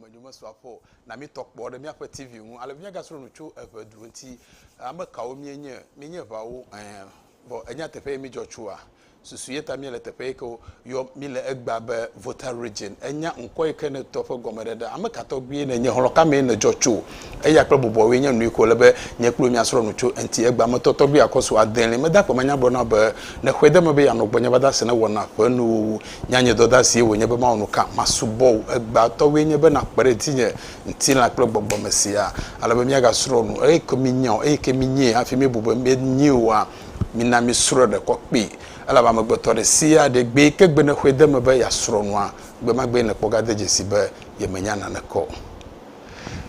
Evedumenyo mesu afɔ o. Na mítɔ kpɔ ɖe míaƒe TV ŋu ale be míagasrɔ̃ nu tso evedu ŋuti. Ame kawo míenye? Míenye eveawo? Ẽ, vɔ ènya teƒe ye mídzɔ tsoa? Susu ye ta míele teƒe yi ke woyɔ mí le egbea be Volta Region. Ènya ŋkɔ yi ke nètɔ ƒe gɔmeɖeɖea? Ame ka tɔgbuie nènye? Xlɔ̃ ka mee nèdzɔ tso? Eya kple bɔbɔwoe nye nu yi ke wòle be nye kple wò míasrɔ̃ nu tso eŋuti. Egbea me tɔ tɔgbuia kɔ su adelia. Meda akpamanya gblɔ na wò be, Ne xɔe de eme be yeanɔ gbɔnye va de ase ne wɔna ƒe nuwuwu, Nya nye dɔdasie wònye be mawɔ nu ka? Masubɔ wò. Egbãtɔwoe nye be nàkpe ɖe dzinye, ŋutilã kple gbɔgbɔ me siaa, ale be míagasrɔ̃ nu. Eyike míenya o, eyike míenyae hafi míebu be míenyae oa, mina míesrɔ̃e ɖekɔ kpee. Elabe amegbetɔ aɖe si aɖee gbee ke gbe nèxɔe de eme be yeasrɔ̃ nua, gbe ma gbee nèkpɔ gade dzesii be yemenya naneke o.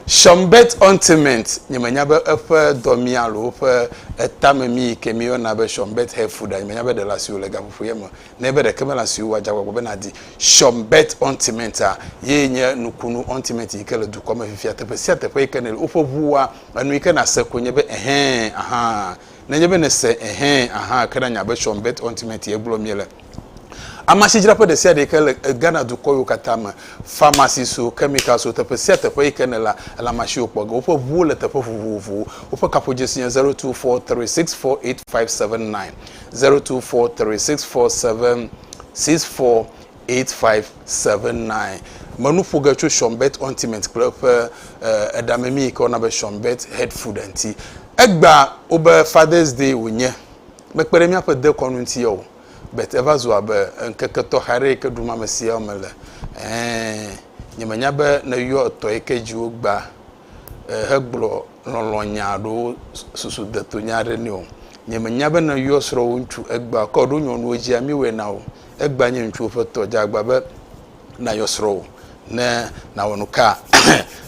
Schönberg Ointment, Nyemenya be eƒe dɔmii alo woƒe etamemii yike míeyɔna be Schönberg Hair Food a, nyemenya be ɖela siwo le gaƒoƒoye me nɛ be ɖeke mele asi wò o, adze agbagba be nàdi Schönberg Ointment-a, ye nye nukunu ointment yi ke le dukɔa me fifia. Teƒe sia teƒe yi ke nèle woƒe ʋua, enu yi ke nàse koe nye be, Ɛhɛ̃, ahã. Nenye be nèse Ɛhɛ̃, ahã ke nanya be Schönberg Ointment ye gblɔm míele. Amasidzraƒe ɖe sia ɖe yi ke le Ghana dukɔ yiwo katã me, pharmacies-o, chemicals-o, teƒe sia teƒe yi ke nèlea, èle amasiwo kpɔ ge. Woƒe ʋuwo le teƒe vovovowo. Woƒe kaƒodzesi nye zero two four three six four eight five seven nine. zero two four three six four seven six four eight five seven nine menu ƒo ge tso shɔnbet ointment kple eƒe eɖamemi yi ke wona be shɔnbet head food ŋuti egba wobe fathers day wònye mekpe ɖe míaƒe dekɔnu ŋuti o bet eva zu abe ŋkeke tɔxɛ aɖe yi ke ɖum ame siawo me le ɛɛ nyemenya be neyɔ etɔ yi ke dzi wogba hegblɔ lɔlɔ̃nya alo susudetunya aɖe nɛ o. Nye menya be ne yɔ srɔ̃wò ŋutsu egbea kɔ ɖo nyɔnuwo dzia mi wɔe na wò. Egbea nye ŋutsuwo ƒe tɔ dze agba be na yɔ srɔ̃wò ne na wɔ nuka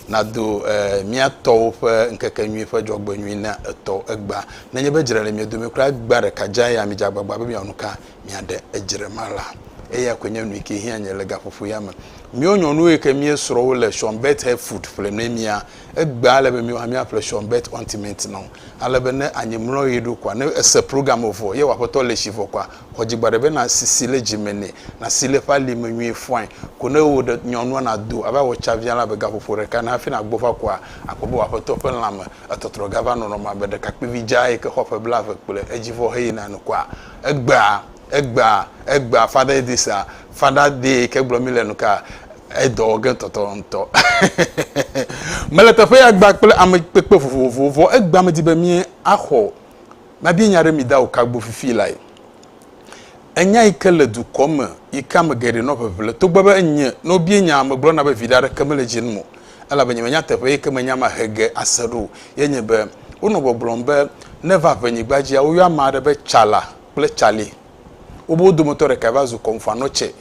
na do mia tɔwo ƒe ŋkeke nyuie ƒe dzɔgbe nyuie na etɔ egbea. Ne nye be dzra le mia dome kura egbea ɖeka dze ya mi dze agbagba be mia wɔ nuka. miaɖe edzre ma la. Eya koe nye nuyike hiã nye le gaƒoƒo ya me. Míwo nyɔnuwo yike míe srɔ wo le Sean Bett Hair Food ƒle nɛ mía. Egbea ele be míwo hã mía ƒle Sean Bett Ointment nɔ. Ale be ne anyi mlɔ ɣi ɖo kɔa, ne ese program evɔ ye wɔ aƒetɔ le tsi vɔ kɔa, xɔ dzi gba ɖe be na sisi le dzi me nɛ, na si le eƒe ali me nyuie fɔae. Ko ne wò ɖe nyɔnua na do ava wɔ tsa via la be gaƒoƒo ɖeka ne hafi na gbɔ va kɔa, akpɔ be wò aƒetɔ ƒe lãme etɔtrɔ ga va nɔnɔmea be ɖekakpuivi dzaa yike xɔ ƒe blave kple edzi vɔ he yina nu kɔa. Egbea, egbea, egbea, Father Idrissa, Father Dee ke gblɔ mi le nu ka? Edɔ wɔ ge tɔtɔ ŋutɔ. Mele teƒe ya gba kple ame kpekpe vovovowo vɔ egbea medi be mi axɔ mabia nya ɖe mi da o ka gbɔ fifi lae. Enya yi ke le dukɔ me yi ke ame geɖe nɔ ʋeʋle togbɔ be enye ne wobia nya megblɔna be viɖe aɖeke mele dzi num o. elabe nyemenya nyateƒe yi ke menya mahe ge ase ɖo o. Ye nye be, wonɔ gbɔgblɔm be, Ne va ʋenyigba dzia, woyɔa ame aɖe be Tsala kple Tsalɛ. Wobe wo dometɔ ɖekae va zu Kɔmfoanotsɛ.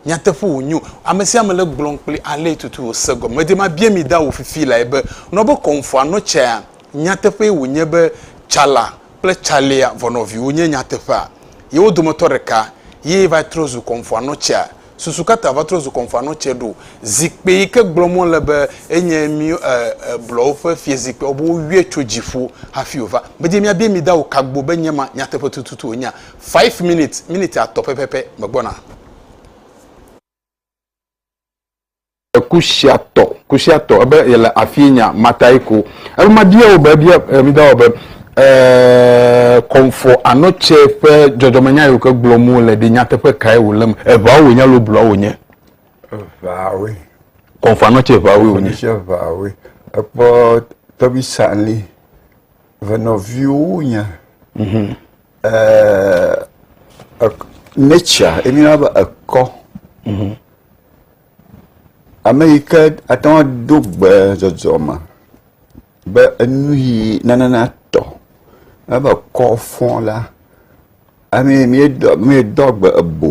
Nyateƒe wònye o, ame sia ame le gblɔm kpli ale tutu wòse gɔme. Medi mabia mi da wò fifi lae be, nɔ be Kɔmfoanotsɛa, nyateƒee wònye be Tsala kple Tsalɛa vɔnɔviwo nye nyateƒea? Ye wo dometɔ ɖeka ye va trɔ zu Kɔmfoanotsɛa? susu ka ta va trɔ zu kɔnfanɔ tsɛ ɖo? Zikpui yi ke gblɔm wo le be enye mí e e blɔwo ƒe fiezikpuiawo be woyɔe tso dziƒo hafi wova. Medze miabia mi da o kagbo be nye ma nyateƒe tututu wonyea? Five minutes, miniti atɔ pɛpɛpɛ megbɔna. Kusiatɔ, Kusiatɔ, ebe yele afie nya matae ko. Ebe mabia wò be, bia mida wɔ be, eeee, kɔmfɔ anɔ tsɛ ƒe dzɔdzɔmenya yiwo ke gblɔm wole ɖi nyateƒe kae wòle me. Eŋaa wònye alo blua wònye? Eŋaa woe. Kɔmfɔ anɔ tsɛ eŋaa woe wònye. Kɔmfɔ anɔ tsɛ eŋaa woe. Ekpɔ tɔbisa li. Ve nɔviwo nya mhm. eh, nature emina be ekɔ mhm. ame yi ke ate ŋu do gbe dzɔdzɔ me be enu yi nanana tɔ ebe kɔ fɔ la ame mi dɔ mi dɔ gbe ebo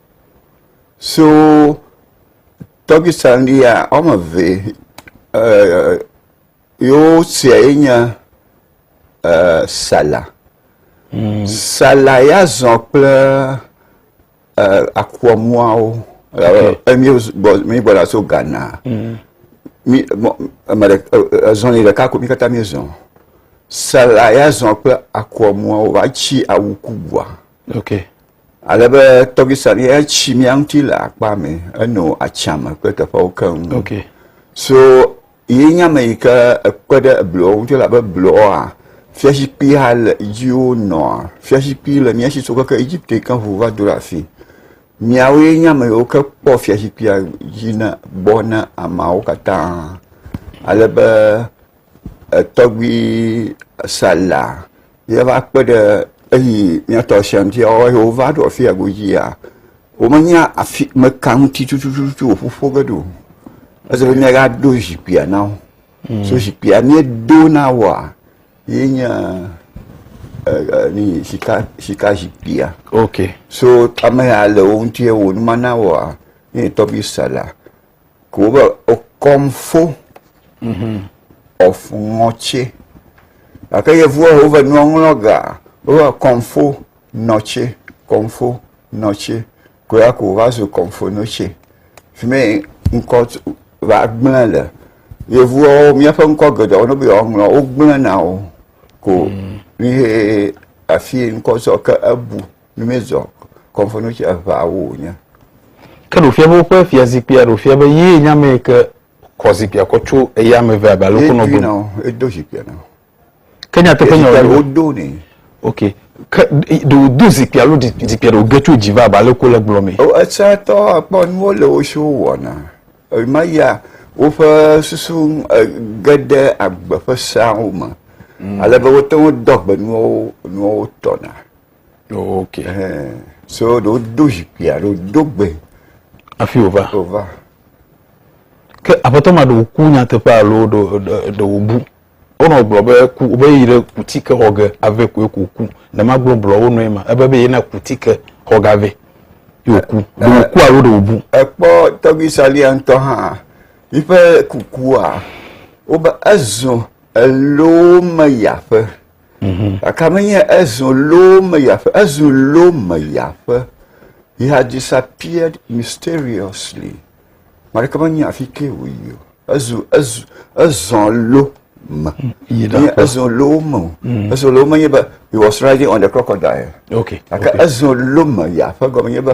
so tɔgbi sandi ya wɔme eve e yewo sia ye nye e sala. Mm. Sala ya zɔ kple e akuamuawo. Okay. E, mi gbɔ mi gbɔ la so Ghana. Mm. Mi mɔ ame ɖe ezɔni ɖeka ko mi katã mi zɔ. Sala ya zɔ kple akuamuawo va tsi awu kubua. Okay. Ale be tɔgbisan ye etsi mía ŋuti le akpa me, eno atsiame kple teƒewo keŋ. Okay. So ye nye ame yi ke ekpe ɖe eblɔwo ŋuti elabe blɔa fiazikpui hã le dzi wonɔa. Fiazikpui le mía si so keke Egipte ke ŋu va do ɖe afi. Miawo ye nye ame yiwo ke kpɔ fiazikpuia dzi na gbɔ na ameawo katã. Ale be Etɔgbui sa la ye va kpe ɖe eyi mía tɔ sem fia wo eye wova ɖo afi ya godzi ya womenya afi me ka ŋuti tututu woƒu ƒo ge ɖo. Ese be míaga do zikpuia na wo. Mm. So zikpuia míedo na woa ye nye e, ni sika sika zikpuia. Okay. So ame ya le wo ŋuti wo nu mana woa ye tɔgbui sa la. Kobe okomfo mm-hmm. ofunɔtse gake yevuwo wove nuɔŋlɔ ga wove kɔnfo nɔtse kɔnfo nɔtse koya ko va zu kɔnfo nɔtse fi mi ŋkɔ va gblẽ le yevuwo míaƒe ŋkɔ geɖewo ne bia woŋlɔ wogblẽna o ko mm. mi he afi ŋkɔ zɔ ke ebu. Mm. Míezɔ kɔnfɔnɔtsi eveawo wònye. Ke ɖo fia be woƒe fiazikpuia ɖo fia be yee nye ame yi ke kɔ zikpuia kɔ tso eya ame eve abe ale wokɔ nɔ gome. Edo zikpuia na wo. Ke nyateƒe nya wo do ne. Ok. Ke ɖe wodo zikpuia alo zikpuia ɖe woge tso dzi va abe ale wokɔ le gblɔ me. O esatɔ akpɔ nuwo le wo si wowɔna. Ema ya woƒe susu ge ɖe agbe ƒe seawo me. Mm. Ale be wote ŋu dɔ gbe nuwo nuwo tɔna. ok hɛn so ɖe wodo zikpuia ɖe wodo gbe hafi wòva wòva ke aƒetɔ ma ɖe wòku nyateƒe alo ɖe wòbu wonɔ gblɔ be ku be yi ɖe kuti ke xɔ ge ave koe ko ku ne magblɔ blɔ wo nɔe ma ebe be yena kuti ke xɔ ge ave yi wòku ɖe wòku alo ɖe wòbu ekpɔ tɔgbi salia ŋutɔ hã yiƒe kukua wobe ezɔ elo me yi aƒe Mhm. Gake menye ezu loo me ya ƒe, ezu loo me ya ƒe. He had disappeared mysteriously. Maɖeke menye afi ke wòyi o. Ezu ezu ezɔ lo me. Yi ɖe Menye aƒe. ezɔ lo me o. Ezɔ lo menye be he was riding on the crocodile. Okay. Gake okay. ezɔ lo me ya ƒe gɔme nye be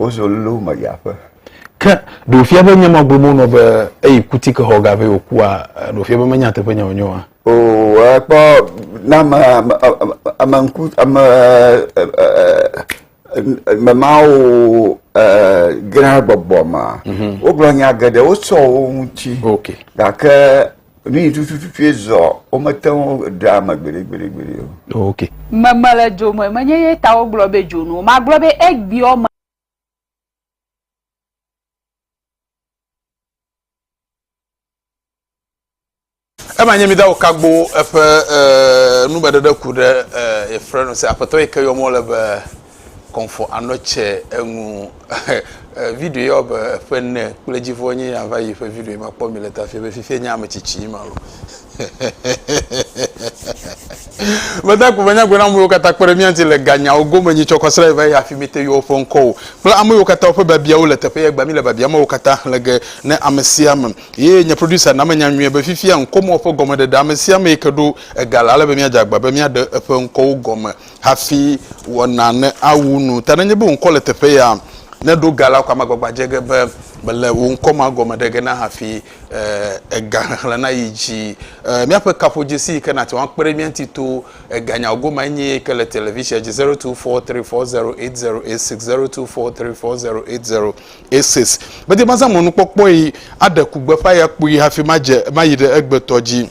Wozɔ lolo me yi aƒe. Ke ɖewo fia be nye ma gblɔ mo nɔ be eyi kuti ke xɔ gave wòkua ɖewo fia be menye nyateƒe nya wònye oa? O ekpɔ na ame ame ame ŋku ame ame mawo gã gbɔgbɔ ma. Mhm. Wogblɔ nya geɖe wosɔ wo ŋuti. Okay. Gake Nu yi tutututue zɔ, womete ŋu ɖea ame gbeɖegbeɖegbeɖe o. Oh, ok. Meme le dzo me, menye ye ta wogblɔ be dzo nu o. Magblɔ be egbeɔ me. Ema nye mida wo kagbo eƒe eh, numeɖeɖe ku ɖe eh, ye frenu se. Aƒetɔ yi ke yɔm wole be kɔmfɔ anɔ tsɛ eŋu video ya wɔbe eƒe ne kple dzivɔ nye ya va yi ƒe video ma kpɔ mi le ta fia be fifia nye ame tsitsi yi ma lo meda ko menya gbe na amewo katã kpe ɖe mía ŋuti le ganyawo gome nyi tsɔkɔ sra yi va yi hafi mi te yewo ƒe ŋkɔwo kple ame yiwo katã woƒe babiawo le teƒe ya gba mi le babia mawo katã xlẽ ge ne ame sia ame ye nye producer na menya nyuie be fifia ŋkɔmewo ƒe gɔmeɖeɖe ame sia ame yi ke ɖo ega le ale be míadze agba be míaɖe eƒe ŋkɔwo gɔme hafi wɔna ne awu nu. Ta nenye be wò ŋkɔ le teƒe ya, ne ɖo ga la ko amagbagba dze ge be mèle wò ŋkɔ ma gɔme ɖe ge na hafi ega xexlẽ nayi dzi. Míaƒe kaƒodzesi yi ke nàte ŋu akpe ɖe mía ŋuti to ega nyawo gomea nye eyi ke le televisia dzi, zero two four three four zero eight zero eight six, zero two four three four zero eight zero eight six. Medi be mazã mɔnukpɔkpɔe aɖe ku gbeƒã ya kpuie hafi madze mayi ɖe egbetɔ dzi.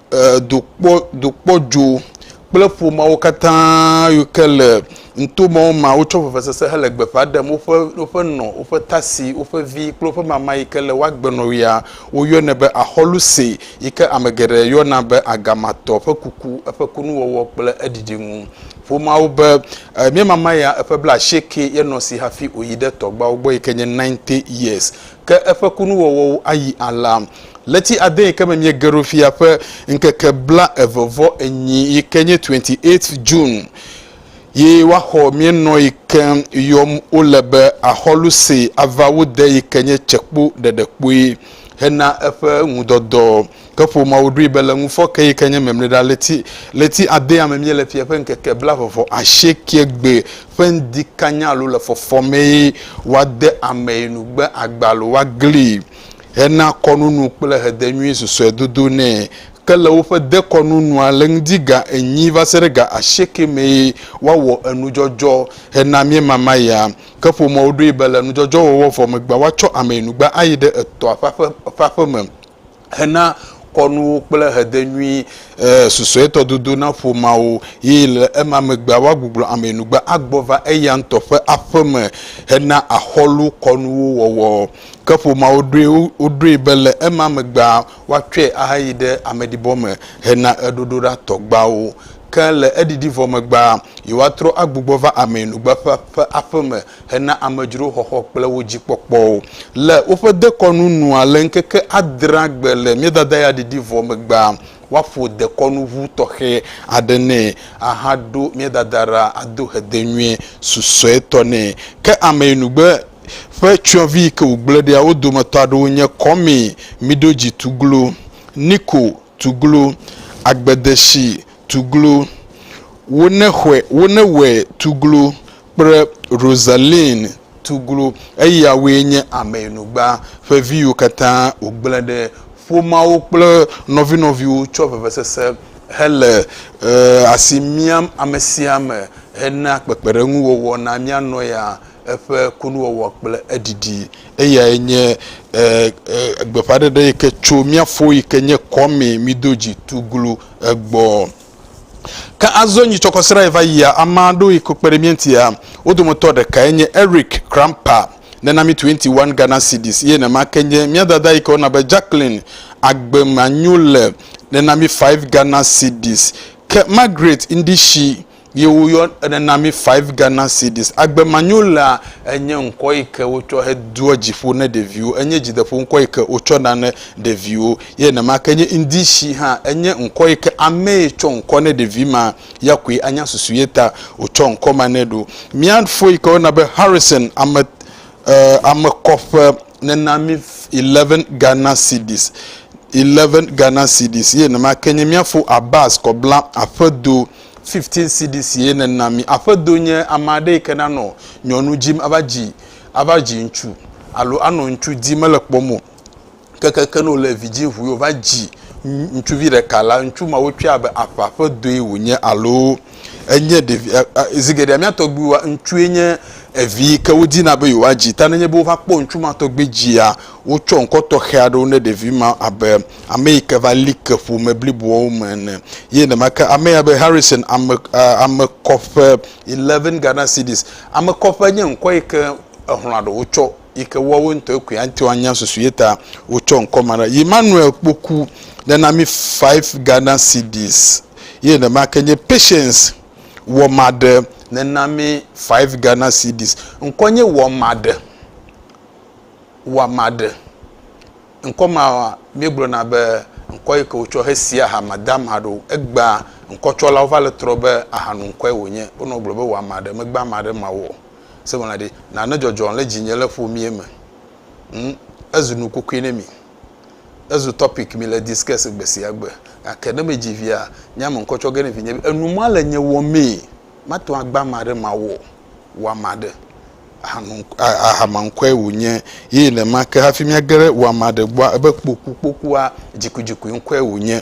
dokpɔdzo kple ƒomeawo katã yi ke le nuto mɔ ma wotsɔ vevesese hele gbe ƒã ɖem woƒe woƒe nɔ, woƒe tasi, woƒe vi kple woƒe mama yi ke le woa gbe nɔ ɣia. Woyɔnɛ be Axɔluse yi ke ame geɖe yɔna be Agamatɔ ƒe kuku, eƒe kunuwɔwɔ kple eɖiɖi ŋu. Ƒomeawo be, Mía mama ya eƒe bla asieke ye nɔ esi hafi wòyi ɖe tɔgbuiawo gbɔ yi ke nye ninety years. ke eƒe kunuwɔwɔwo ayi alea. Ɣleti adee ke me míege ɖo fia ƒe ŋkeke bla eve vɔ enyi yi ke nye 28th June yi woaxɔ mía nɔ yi ke yɔm wole be Axɔlu see ava wo de yi ke nye tsekpo ɖeɖekpui hena eƒe ŋudɔdɔ. Ke ƒomeawo ɖoe be le ŋufɔ ke yi ke nye mɛmlɛɖa ɣleti ɣleti adea me míele fia ƒe ŋkeke blaeve-vɔ-asiekɛ gbe ƒe ŋdi kanya alo le fɔfɔ mee woade amee nu gbe agba alo woaglii hena kɔnunu kple hedenyui susɔedodo nɛ. Ke le woƒe dekɔnunua le ŋdi ga enyi va se ɖe ga asiekɛ mee woawɔ enudzɔdzɔ hena miemama ya. Ke ƒomeawo ɖoe be le nudzɔdzɔwɔwɔ vɔ megbea woatsɔ amee nu gbe ayi ɖe etɔa ƒe aƒe ƒe aƒeme. hena kɔnuwo kple hede nyui eh, susuetɔ dodo na ƒomeawo, yi le ema megbea woagbuglɔ ameyinugbe agbɔ va eya ŋutɔ ƒe aƒe me hena axɔlu kɔnuwo wɔwɔ. Ke ƒomeawo ɖoe woɖoe be le ema megbea woatsɔe ahayi ɖe ameɖibɔ me hena eɖoɖoɖa tɔgbeawo. Ke le eɖiɖi vɔ megbea, yewoatrɔ agbugbɔ va ameyinugbe ƒe ƒe aƒe me hena amedzrowo xɔxɔ kple wo dzi kpɔkpɔwo le woƒe dekɔnu nua le ŋkeke adrea gbe le Míedadayaɖiɖi vɔ megbea, woaƒo dekɔnu ŋu tɔxɛ aɖe nɛ ahaɖo Míedadaɖa ado hede nyuie susɔetɔ nɛ. Ke ameyinugbe ƒe tsyɔ̃vi yi ke wògblẽ ɖia, wo dometɔ aɖewo nye Kɔme miɖo dzi tuglu, Niko tuglu, Agbedeshi tuglu, Wonexɔe, Wonewɔe tuglu, kple Rosaline Tuglu, eyawoe nye Ameyinugba ƒe vi yiwo katã wògblẽ ɖe ƒomeawo kple nɔvinɔviwo tsɔ vevesese hele asi miam amesiame hena kpekpeɖeŋuwɔwɔ na mía nɔya, eƒe kunuwɔwɔ kple eɖiɖi. Eyae nye gbeƒãɖeɖe yi ke tso mía fo yi ke nye Kwame Mido Dzi Tuglu gbɔ. Ke azɔ nyitsɔkɔsrae va yia, ame aɖewo yi ke kpe ɖe mía ŋutia. Wo dometɔ ɖekae nye Eric Kramper, nena mí twenty one Ghana cedis, eye nenema ke nye mía dada yi ke woyɔna be Jacqueline Agbemanyule, nena mí five Ghana cedis, ke Margaret Ndishi, ye woyɔ, nena mí five Ghana cedis. Agbemanyulea enye ŋkɔ yi ke wotsɔ hedoa dzi ƒo ne ɖeviwo. Enye dzideƒoŋkɔ yi ke wotsɔ na ne ɖeviwo. Ye nenema ke nye Indisi hã, enye ŋkɔ yi ke amee tsɔ ŋkɔ ne ɖevi ma ya koe anya susu ye ta wòtsɔ ŋkɔ ma nɛ ɖo. Mía fo yi ke woyɔna be Harrison ame, e, ame kɔƒe nena mí eleven Ghana cedis, eleven Ghana cedis, ye nenema ke nye mía fo Abbas Kɔbla aƒedo fifteen cedis ye nena mí. Aƒedo nye ame aɖe yi ke nanɔ nyɔnu dim ava dzi, ava dzi ŋutsu alo anɔ ŋutsu dim mele kpɔm o. Kekeke ne wòle vidzĩ ŋu ye wòva dzi ŋutsuvi ɖeka la, ŋutsu ma wotsɔe abe aƒa ƒe dɔe wònye alo enye ɖevi, zi geɖea mía tɔgbuiwoa, ŋutsue nye vi yi ke wodina be yewoadzi. Ta nenye be wova kpɔ ŋutsu ma tɔgbi dzia, wotsɔ ŋkɔ tɔxɛ aɖewo ne ɖevi ma abe ame yi ke va li ke ƒome bliboawo me ene. Ye nenema ke ame ya be Harrison, ame, ame kɔƒe, eleven Ghana cedis. Ame kɔƒe nye ŋkɔ yi ke exlɔ̃a ɖewo tsɔ yi ke woawo ŋutɔe koe ate anya susu ye ta wotsɔ ŋkɔ ma ɖa. Emmanuel Kpoku ɖe na mi five Ghana cedis ye nema ke nye Patience Wɔmaɖe ne na mi five Ghana cedis. Ŋkɔ nye Wɔmaɖe, Wɔmaɖe. Ŋkɔ ma míegblɔna be ŋkɔ yi ke wotsɔ hesia aha madama aɖewo. Egbea ŋkɔtsɔlawo va le trɔ be ahanoŋkɔe wònye. Wonɔ gblɔ be Wɔmaɖe, megbe ame aɖe ma wɔ o. Se ŋlɔna ɖi, Nane dzɔdzɔ le dzinye le ƒo mí eme. Ŋ, ezu nu kukui ne mí. Ezu topic mí le discuss gbe sia gbe. Gake ne medzi via, nye ame ŋkɔ tsɔ ge ne vinye be, enu ma le nye wɔ mee. Mate ŋu agba ame aɖe mawɔ o. Wɔ ame aɖe. Aha nu, aha ma ŋkɔe wò nye. Ye nenema ke hafi mía ge ɖe wɔ ame aɖe gbɔa, ebe kpokukpokua, dzikudzikui ŋkɔe wò nye.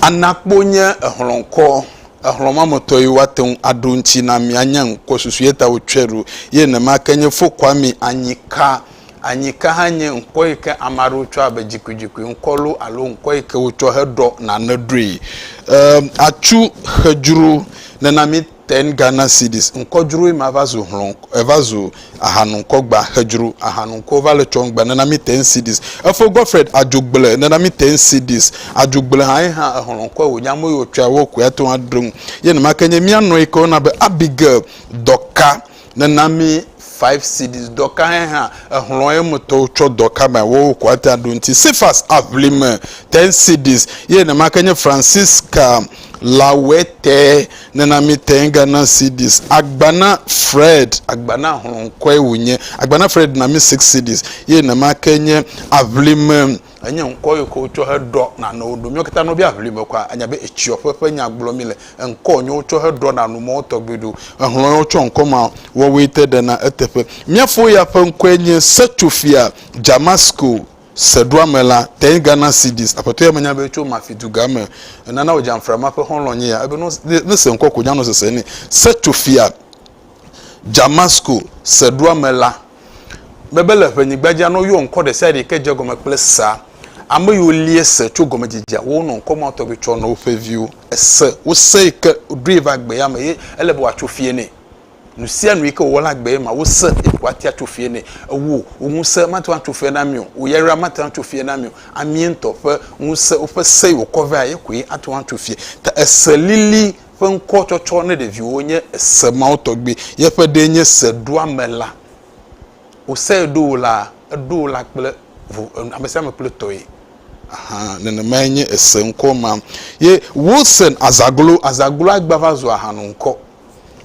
Anakpo nye exlɔ̃kɔ, exlɔ̃ ma me tɔ ye woate ŋu aɖo ŋuti na mi anya ŋkɔ susu ye ta wotsɔe ɖo ye nenema ke nye Fokwami Anyika. Anyika hã nye ŋkɔ yi ke ame aɖewo tsɔa be dzikodzikoe ŋkɔ loo alo ŋkɔ yi ke wotsɔ heɖɔ nane ɖoe. E atsu xedzro nena mi. Ten Ghana cedis ŋkɔdzroe ma va zu hlɔ̃ eva zu ahanuŋkɔgba hedzro ahanuŋkɔwo va le tsɔŋgba nena mí ten cedis efo Godfred Adzogble nena mí ten cedis Adzogble hã ye hã ehlɔ̃kɔe wònye amewo yi wotsɔa wo koe ate ŋu aɖo ŋu ye nemake nye mía nɔe ke wona be Abigail Dɔka Nena mi five cedis dɔ ka hɛ hã exlɔ ye me tɔwo tsɔ dɔ ka mea wo ko ate ɖo ŋuti. Cephas Aʋlime ten cedis ye nema ke nye Francisca Lawete nena mi ten Ghana cedis. Agbana Fred Agbana hlɔ ŋkɔe wonye Agbana Fred na mi six cedis ye nema ke nye Aʋlime. Enye ŋkɔ yi ke wotsɔ heɖɔ nanewo ɖo. Míawo katã ne wobia ŋli me kɔa, anya be etsiɔƒe ƒe nya gblɔm míle. Ŋkɔ yi ne wotsɔ heɖɔ nanu mɔwo tɔgbi ɖo. Ehlɔ̃ yi wotsɔ ŋkɔ ma wɔwoe te ɖena eteƒe. Mía fo ya ƒe ŋkɔe nye Setso-fia Damasko seɖoame la, Teny Ghana Cedis. Aƒetɔ ya menya be etso Mafi duga me. Enana wòdze Amfra ma ƒe xɔlɔ̃ nye ya. Ebe ne wose, ne ese ŋkɔ ko wònye anɔ sese nɛ. Setso-fia Damasko seɖoame la. Bebel le ƒenyigba dzi anɔ yɔ ŋkɔ ɖe sia ɖe ke dze gɔme kple sea. Ame yiwo lia se tso gɔmedzedzea wo nɔ ŋkɔ ma tɔgbi tsɔ nɔ woƒe viwo. Ese wose yi ke ɖoe va gbea me ye ele be woatso fie nɛ. Nu sia nu yi ke wòwɔ la gbee ma wose yi ke woatia tso fie nɛ. Ewoo, wò ŋusẽ mate ŋu atso fie na mi o, wò yayra mate ŋu atso fie na mi o. Amee ŋutɔ ƒe ŋusẽ, woƒe se yi wokɔ vea ye koe ate ŋu atso fie. Ta ese lili. ƒe ŋkɔtsɔtsɔ ne ɖeviwo nye ese mawo tɔgbi. Yeƒe ɖee nye Seɖoamela. Wosee ɖo wò la, eɖo wò la kple vo, ame sia ame kple tɔe. Ahan, nenemae nye ese ŋkɔ ma. Ye Wilson Azaglo, Azaglo agba va zu ahan ŋkɔ.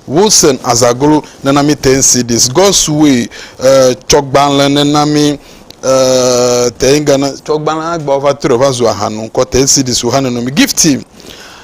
Wilson Azaglo nana mi ten CDs. God's Way eh, tsɔgbalẽ nena mi eh, ten Ghana tsɔgbalẽ agbawo va trɔe va zu ahan ŋkɔ. Ten CDs wò hã neno mi. Gifty.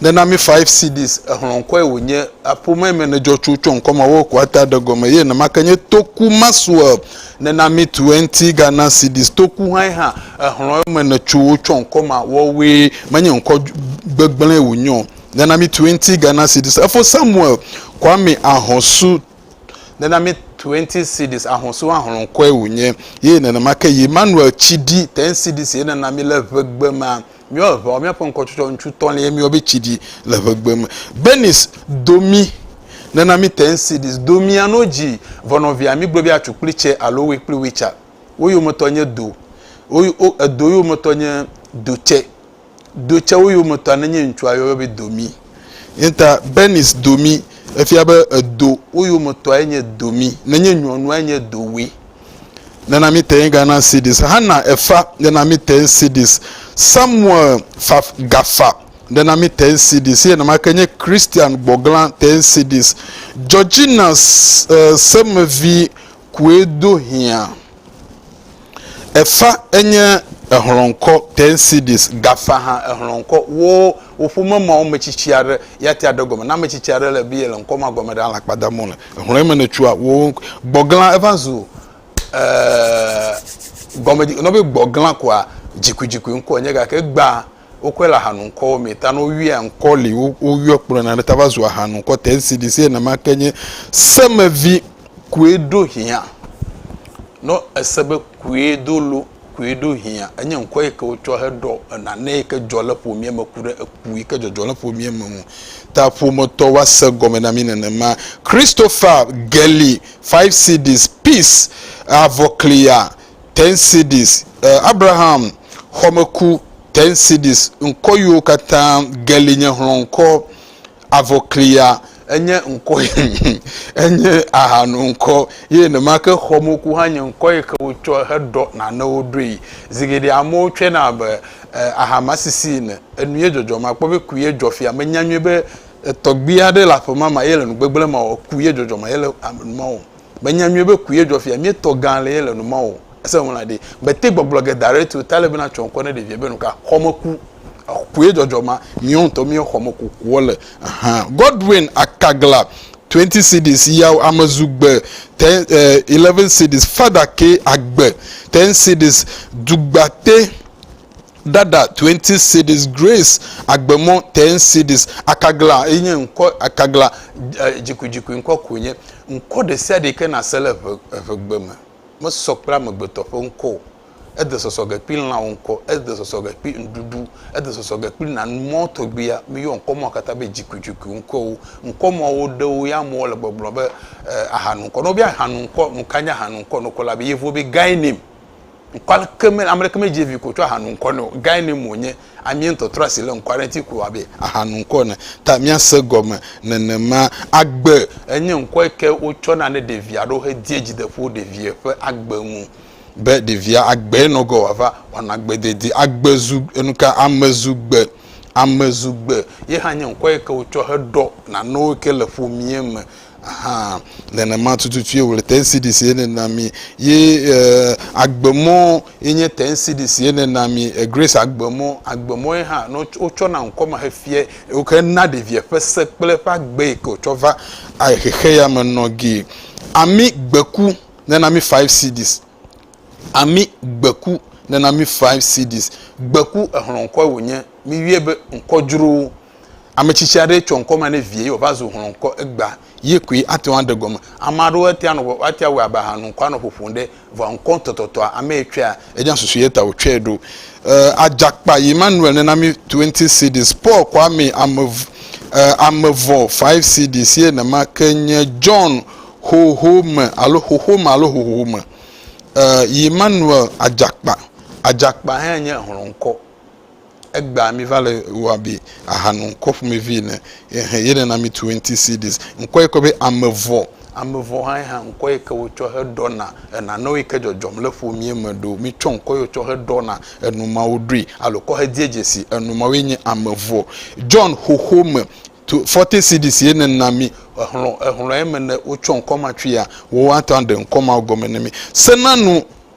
Ne na mi five CDs, exlɔ̃ ŋkɔe wònye, aƒomee me nedzɔ tso tsɔ ŋkɔ ma wɔ kua ta ɖe gɔme ye nemake nye Toku Maxwell. Ne na mi twenty Ghana CDs, Toku hãe hã, exlɔ̃ eme netso tsɔ ŋkɔ ma wɔ woe, menye ŋkɔ gbegblẽe wònye o. Ne na mi twenty Ghana CDs, efo Samuel Kwame Ahɔsu. Ne na mi twenty CDs, Ahɔsu hã xlɔ̃ ŋkɔe wònye ye nenemake yi Emmanuel Tshidi, ten CDs ye ne na mi le ŋegbe ma. Míewɔ ʋeawo, míaƒe ŋkɔtsɔtsɔ ŋututɔ lae míeyɔ be tsi ɖi le ʋegbe me. Bernice do mí, nena mí te ŋu si ɖi do mía no dzi vɔ nɔvia mígblɔ be atsu kple tse alo we kple witsa. Wo yometɔ nye do, wo yo, edo yometɔ nye do tse. Do tsewo yometɔa nenye ŋutsua yɔyɔ be do mí. Ye ta Bernice do mí efia be edo wo yometɔae nye do mí, nenye nyɔnuae nye do we. nana mite ŋga na cds hana efa nana mite ŋ cds samuel fa gafa nana mite ŋ cds ye nama ke nye christian gbɔgla te ŋ cds georgina uh, semevi kue do hia efa enye ehlɔnkɔ te ŋ cds gafa ha ehlɔnkɔ wo Wò ƒome me ame tsitsi aɖe ya tia ɖe gɔme. Ne ame tsitsi aɖe le biye le ŋkɔ ma gɔme ɖe alakpa dam wole. Hlɔ̃e me ne tsua wo gbɔgla eva zu eeee gɔme dzi nɔ be gbɔgla koa dzikui dzikui ŋkɔ nye gake egbea wokɔe le ahanu ŋkɔwo me ta ne woyɔe ŋkɔ li wo woyɔ kplɔ na ne ta va zu ahanu ŋkɔ te esi ɖi se name ake nye semevi. Kue ɖo hiã nɔ ese be kue do lo koe ɖo hiã. Enye ŋkɔ yi ke wotsɔ heɖɔ nane yi ke dzɔ le ƒomea me ku ɖe eku yi ke dzɔdzɔ le ƒomea me ŋu. Ta ƒometɔ woa se gɔme na mí nenema. Christopher Gelley, Five Cds, Peace, Avɔkliya, Ten Cds, Abraham, Xɔmeku, Ten Cds, ŋkɔ yiwo katã Gelley nye hlɔ̃ŋkɔ. Avɔklia enye ŋkɔ enye ahanu ŋkɔ ye nemake xɔmoku hã nye ŋkɔ yi ke wotsɔ heɖɔ nanewo ɖoe. Zi geɖe amewo tsɔe na abe ahamasisi ene. Enu ye dzɔdzɔ ma kpɔ be ku ye dzɔ fia. Menya nyuie be tɔgbui aɖe le aƒe ma me eye le nu gbegblẽ ma o. Ku ye dzɔdzɔ ma yele nu ma wɔm. Menya nyuie be kue dzɔ fia. Míetɔ gã le ye le nu ma o. Ese ŋu la ɖe, mete gbɔgblɔ ge da ɖe te o ta le be na tsɔ ŋkɔ ne ɖevia be nuka? Xɔmeku. Kue dzɔdzɔ ma, miwo ŋutɔ miwo xɔmeku kuɔ le. Ahan. Godwin Akagla, 20 cedis, Yaw Amezu gbe, 10, eh, 11 cedis, Fada ke agbe, 10 cedis, Dugbate. Dada twenty cedis Grace Agbemɔ ten cedis Akagla ye nye ŋkɔ Akagla dzikuidzikui ŋkɔ koe nye ŋkɔ ɖesiaɖe yi ke nàse le eve evegbe me. Mesɔ kple amegbetɔ ƒe ŋkɔ o. Ede sɔsɔ ge kple lãwo ŋkɔ. Ede sɔsɔ ge kple ŋɖuɖu. Ede sɔsɔ ge kple nanu mɔ tɔgbuia. Míeyɔ ŋkɔ mawo katã be dzikuidzikui ŋkɔwo. Ŋkɔ mawo ɖewo ya amewo le gbɔgblɔm be e ahanu ŋkɔ. Ne wobiã ahanu ŋkɔ, nuka nye ahanu ŋkɔ nukɔ la be yevuwo be guy name. ŋkɔ aleke me ame ɖeke medzi vi ko tsɔ aha nu ŋkɔ ne o gae ne mo nye amie ŋutɔtrɔ si le ŋkɔ aɖe ŋuti ko abe aha nu ŋkɔ ne ta miase gɔme nenema agbe enye ŋkɔ yi ke wotsɔ na ne ɖevi aɖewo he die dzideƒo ɖevia ƒe agbe ŋu be ɖevia agbe nɔ gɔ wòava wɔna agbe dede agbe zu enuka ame zu gbe ame zu gbe ye hã nye ŋkɔ yi ke wotsɔ he ɖɔ nanewo yi ke le ƒomie me Hã nenema tututu ye wòle tensidisi ye nena mi ye eh, agbemɔ ye nye tensidisi ye nena mi eh, grace agbemɔ agbemɔ ye hã no wotsɔ na ŋkɔ ma hefie woke na ɖevia ƒe se kple ƒe agbe yi ke wotsɔ va eh, xexe ya me nɔ gi ami gbeku nena mi five cds ami gbeku nena mi five cds gbeku exlɔ ŋkɔ wònye mi wie be ŋkɔ dzrowo Ame tsitsi aɖe tsɔ ŋkɔ ma ne vie ye wòva zu hlɔ ŋkɔ egbea, ye koe ate ŋu aɖe gɔme. Ame aɖewo atea nɔ atea wɔ abe ahanu ŋkɔ anɔ ƒoƒom ɖe vɔa ŋkɔ tɔtɔtɔa ame yi tsɔea enya susu ye ta wòtsɔe ɖo. E, adzakpa yi Manuel nena mi 20 CDs, Paul kɔ amee ame e, ame vɔ 5 CDs ye nema ke nye John xoxo me alo xoxo me alo xoxo me e, yi Manuel adzakpa. Adzakpa hã nye hlɔ ŋkɔ. Egbea miva le wɔ abe ahanu ŋkɔ ƒomevi ene. Ehe, ye nana mitu enti CDs. Ŋkɔ yi ke be amevɔ. Amevɔ hãe hã ŋkɔ yi ke wotsɔ heɖɔna enanewo yi ke dzɔdzɔm le ƒomea me ɖo. Mitsɔ ŋkɔ yi wotsɔ heɖɔna enu mawo ɖoe alo kɔ hedie dzesi enu mawoe nye amevɔ. John xoxo me tu forty CDs ye nena mi. Exlɔ, exlɔ eme ne wotsɔ ŋkɔ ma tsoea, woatɔ aɖe ŋkɔ mawo gɔme ne mi. Sena nu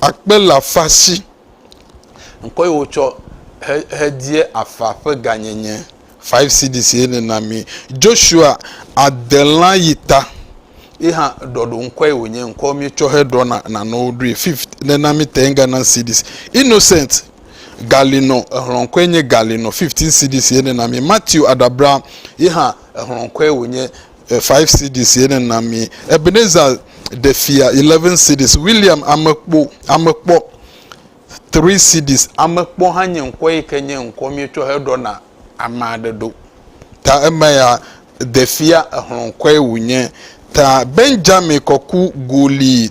Akpe le afa si. Ŋkɔ yi wotsɔ hedie afa ƒe gãnyenye. Five cedis ye ne na mi. Joshua adelã yi ta. Ye hã ɖɔɖo ŋkɔe wònye. Ŋkɔ mi tsɔ heɖɔ na nanewo ɖoe. Fifth ne na mi ten Ghana cedis. Innocent Galino ehlɔ ŋkɔe nye Galino. Fifteen cedis ye ne na mi. Matthew Adabra ye hã ehlɔ ŋkɔe wònye. Five cedis ye ne na mi. Ebenezer ɖe fia eleven cedis. William amekpo, amekpɔ three cedis. Amekpɔ hã nye ŋkɔ yi ke nye ŋkɔ mietsɔ he ɖɔ na ame aɖe ɖo. Ta eme ya ɖe fia exlɔ ŋkɔe wonye. Ta Benjamin kɔku goli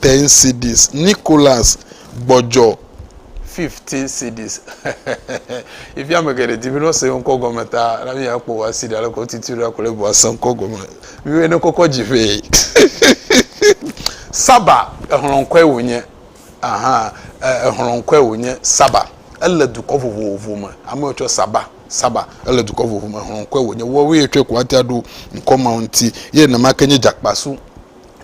Ten cedis Nicholas gbɔdzɔ. Fifteen cedis Yi fia ame geɖe di be ne wose yewo ŋkɔ gɔme ta na mía kpɔ wò asi ɖe aleke wotiti ɖo akplɔe vɔ ase ŋkɔ gɔme. Miwoe ne kɔkɔ dzi ƒe. Saba exlɔ ŋkɔe wònye. Aha exlɔ ŋkɔe wònye Saba. Ele dukɔ vovovo me. Ame wotsɔ Saba Saba ele dukɔ vovovo me. Exlɔ ŋkɔe wònye. Woawoe tsɔe ko woate aɖo ŋkɔ mawo ŋuti. Ye nenema ke nye Djakpasu.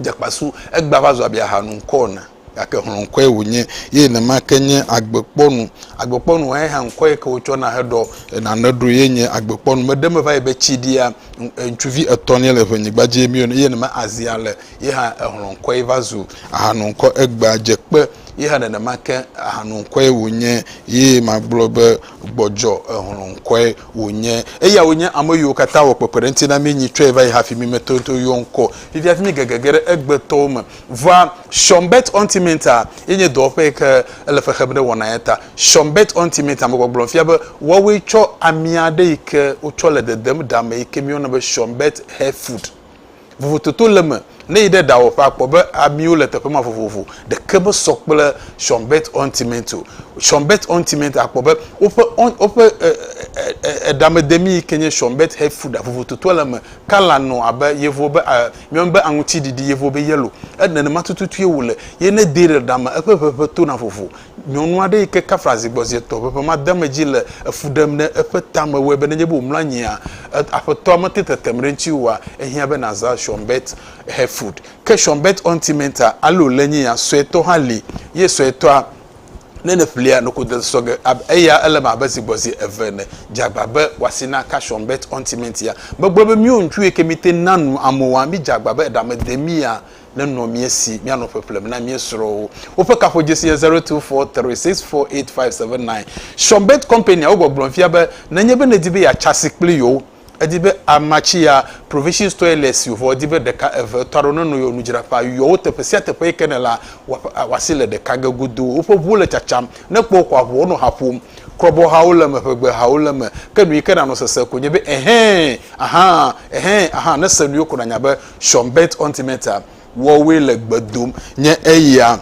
dze kpasu, egbea va zu abe aha nu ŋkɔ ene, gake hlɔ̃ ŋkɔe wònye, ye nenema ke nye agbekpɔnu. Agbekpɔnua ye hã ŋkɔe ke wotsɔna heɖɔ nane ɖo ye nye agbekpɔnu. Meɖe eme va yi be tsiɖia, ŋutsuvi etɔ̃lia le ʋenyigba dzi emi ene, ye nenema azia le ye hã ehlɔ̃ ŋkɔe va zu aha nu ŋkɔ. Egbea dze kpe ye hã nenema ke aha nu ŋkɔe wònye, ye magblɔ be gbɔdzɔ ehlɔ̃ ŋkɔe Wònye. Eyae wònye ame yiwo katã wɔ kpekpeɖeŋuti na mí nyi tsɔe va yi hafi mí mete ŋuti yɔ ŋkɔ fifia hafi mí gege ge ɖe egbetɔwo me. Vɔa, Sean Bert Ontimenta ye nye dɔwɔƒe yi ke ele fe xem ɖe wɔna ya ta. Sean Bert Ontimenta, megbɔgblɔm fia be woawoe tsɔ ami aɖe yi ke wotsɔ le dedem ɖa me yi ke míeyɔna be Sean Bert Hair Food. Vovototo le eme. Ne èyi ɖe ɖawɔƒe akpɔ be amiwo le teƒe ma vovovo, ɖeke mesɔ kple Sean Bett Ointment o. Sean Bett Ointment akpɔ be woƒe oint woƒe e e e eɖamedemi yi ke nye Sean Bett Health Food a vovototoa le eme. Kɔla nɔ abe yevuwo be e míeyɔnɛ be aŋutiɖiɖi, yevuwo be yellow. E nenema tututue wòle ye ne edee ɖe ɖa me eƒe ʋeʋẽ tona vovo. Nyɔnu aɖe yi ke kafla zi gbɔ zi etɔ̃ ƒe ƒe ma de eme dzi le efu ɖem ɖe eƒe tame wɔe be nenye be wòmlɔ anyia, Aƒetɔa mete tetem ɖe ŋutiwò oa, ehiã be nàzã Schönberg Hörfurt. Ke Schönberg Ɔntimenta alo Lenyinya suetɔ hã li, ye suetɔa, ne nèƒlia, noko de sɔ ge abe eya, ele eme abe zi gbɔ zi eve ene. Dze agba be wò asi naka Schönberg Ɔntimentia. Megblɔ be míwo ŋutsuwo yi ke míete ŋu na nu amewoa, midze agba be eɖa mede mía nenɔ mía si míanɔ ƒeƒlem na mía srɔ̃wo. Woƒe kaƒodzesi nye zero two four three six four eight five seven nine. Shonbet Company awo gbɔgblɔm fia be nenye be nèdi be yeatsa asi kpli yewo, edi be amatsiya, provisions toilets si wòvɔ edi be ɖeka eve etɔ̃ aɖewo nenɔ yewo nudzraƒea. Yɔ wo teƒe sia teƒe yi ke nèlea wòasi le ɖeka ge godoo. Woƒe ʋuwo le tsatsam. Ne èkpɔ wo koa, ʋuwo nɔ ha ƒom. Krɔbɔhawo le eme, ʋegbehawo le eme. Ke nu yi ke nànɔ sesem ko nye be, Ɛhɛ̃! Ahaa! Ɛhɛ̃! Ahaa! Ne èse nu yewo ko nànya be Schonberg Ontimeter wɔwoe le gbe dom nye eya.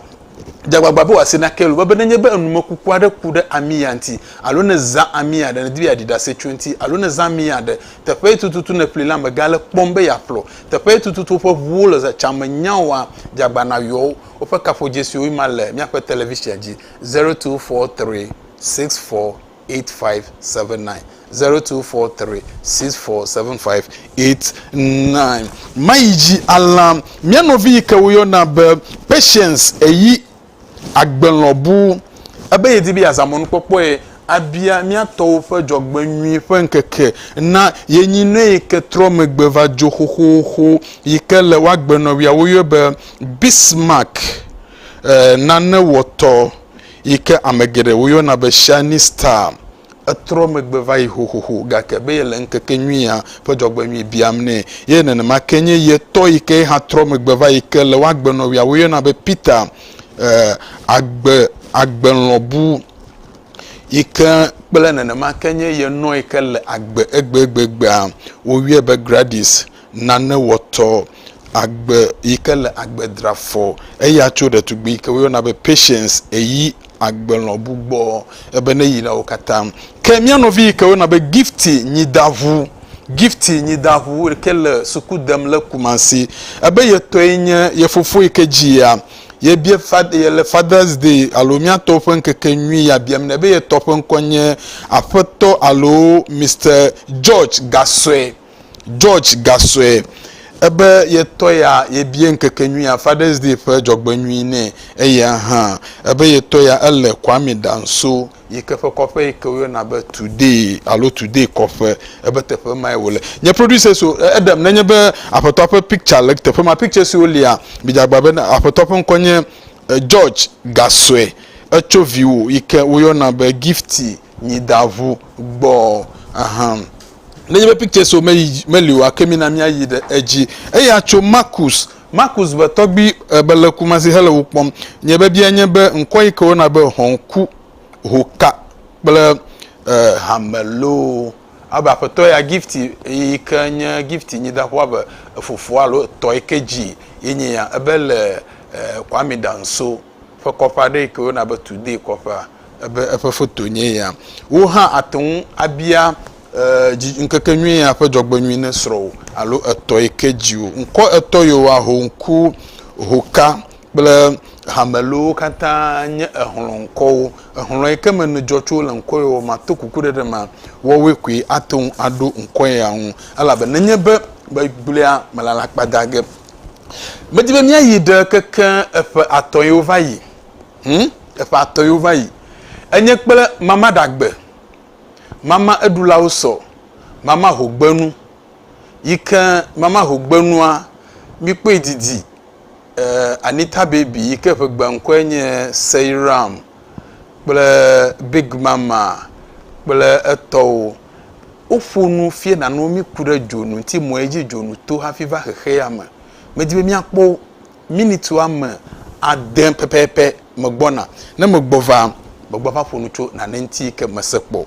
Dze agbagba be wòase na Kelo be, be nenye be enumekuku aɖe ku ɖe ami ya ŋuti, alo ne zã ami aɖe, nèdi be yeaɖi ɖase tso eŋuti, alo ne zã ami aɖe, teƒee tututu nèƒli la, mègale kpɔm be yeaƒlɔ. Teƒee tututu woƒe ʋuwo le zã tsã me nyaoa? Dze agbagba nàyɔ wo. Woƒe kaƒodzesiwoe ma le míaƒe televisia dzi, zero two four three six four. 0247657902476575899. Mayi dzi alã. Mía nɔvi yi ke woyɔna be Patience eyi agbelɔbu. Ebe yedi be yeazã mɔnukpɔkpɔe abia mía tɔwo ƒe dzɔgbenyui ƒe ŋkeke na ye nyinɔe yi ke trɔ megbe va dzo xoxoxo yi ke le woagbenɔwia woyɔe be Bismarck nanewɔtɔ yi ke ame geɖe woyɔna be Shining Star, etrɔ megbe va yi xoxoxo gake be yele ŋkekenyuia ƒe dzɔgbenyui biam nɛ. Ye nenema ke nye ye tɔ yi ke ye hã trɔ megbe va yi ke le wo agbenɔwia woyɔna be Peter, eh, agbe, agbelɔbu yi ke kple nenema ke nye ye nɔ yi ke le agbe egbegbegbea. Woyɔe be Gradis. nane wɔtɔ agbe yi ke le agbe dra fɔ eya tso ɖetugbui yi ke woyɔna be Patience eyi agbelɔbu gbɔ ebe ne yi na wo katã. Ke mía nɔvi yi ke woyɔna be Gifty Nyidaŋu, Gifty Nyidaŋu yi ke le suku dem le Kumasi ebe ye tɔe nye ye fofo yi ke dzi yea ye bia ye le Father's Day alo mía tɔwo ƒe ŋkeke nyui ya biam nɛ be ye tɔ ƒe ŋkɔ nye Aƒetɔ alo Mister George Gasɔe. George gasɔe ebe ye tɔ ya yebie ŋkekenyuia Fathers Day ƒe dzɔgbenyui nɛ eya hã ebe ye tɔ ya ele Kwame Danso yike ƒe kɔƒe yike woyɔna be Today alo Today kɔƒe ebe teƒe mae wòle. Nye producers o eɖem nenye be aƒetɔa ƒe picture le teƒe ma pictures siwo lia midze agba be aƒetɔa ƒe ŋkɔ nye George gasɔe etso viwò yike woyɔna be Gifty nyi da ŋu gbɔ ahan. Nenye be pictures wo meyi meli oa, ke mina míayi ɖe edzi. Eya tso Marcus. Marcus be tɔgbui e be le Kumasi hele wo kpɔm. Nye biabia nye be ŋkɔ yi ke wona be Hɔnku, Hoka kple e hame loo. Abe aƒetɔ ya Gifty yi ke nye Gifty nyi da ŋu abe efofoa alo etɔ yi ke dzi ye nye ya ebe le e Kwame Danso. ƒe kɔƒe aɖe yi ke woyɔna be Today kɔƒea ebe eƒe foto nye ya. Wò hã àte ŋu abia ŋkekenyui ya ƒe dzɔgbenyui ne srɔ̃wò alo etɔ yi ke dzi wò. Ŋkɔ etɔ yewoa, Hoŋku, Hoka kple Hamelowo katã nye exlɔ̃ŋkɔwo. Exlɔ̃ yi ke me nèdzɔ tso le ŋkɔ yewo mea, to kuku ɖe ɖe ma, woawoe koe ate ŋu aɖo ŋkɔ ya ŋu. Elabe nenye be megblẽa, melala kpadage Medi be míayi ɖe keke eƒe atɔ̃ yiwo va yi. Hm, eƒe atɔ̃ yiwo va yi. Enye kple mama ɖagbe, mama eɖulawo sɔ, mama hogbenu, yi ke mama hogbenua, mikpɔe didi eh, Anita Baby yi ke eƒe gbeŋkɔe nye Seiram kple Big Mama kple etɔwo Woƒo nu fiẽ nanewo míku ɖe dzonu ŋuti mɔ ye dzi dzonu to hafi va xexea me. Medi be míakpɔ wo. Minit woame ade pɛpɛpɛ megbɔna. Ne megbɔ va, megbɔ ava ƒo nu tso nane ŋuti yi ke mese kpɔ o.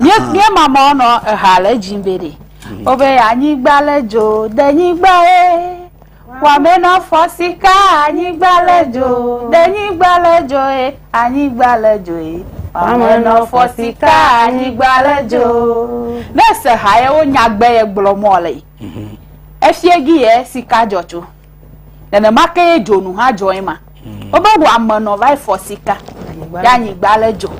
Mía Aha. mía ma mɔ nɔ eha le dzi be ɖe. O be anyigba le dzo de nyigba ye. Wame nɔ fɔ sika anyigba le dzo de nyigba le dzo ye anyigba le dzo ye. Wame nɔ fɔ sika anyigba le dzo. Ne se ha ye wo nyagbe ye gblɔ mɔ le yi. Efiɛ gi ye sika dzɔ tso. Nenema ke ye dzonu hã dzɔ ema. Wobe wò ame nɔ va yi fɔ sika ɖe anyigba le dzo.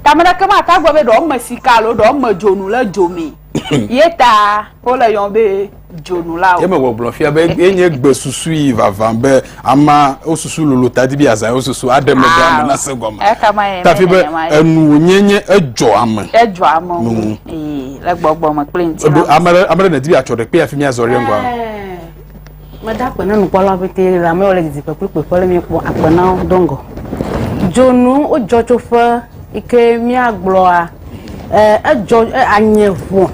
Tame ɖeke ma ta gbɔ be ɖewo me sika alo ɖewo me dzonu le dzo me. Ye ta wole yɔm be dzonu la o. Ye me gbɔgblɔ fia be enye gbe susui vavã be. ama wosusu lolo tadi bi azã wosusu aɖe me ɖe ame ah, na se gɔme tafi be enu wonye nye edzɔ ame edzɔ ame ŋu mm. ee le gbɔgbɔ me kple ŋuti na ame ɖe ame ɖe nedi bi atsɔ ɖe kpe afi mi azɔ ɖe ŋgɔ meda akpe na nukpɔla pete le amewo le didi kpekpe kpekpe le mi kpɔ akpe na wo do ŋgɔ dzonu wodzɔ tso ƒe yi ke miagblɔa edzɔ anye ʋɔ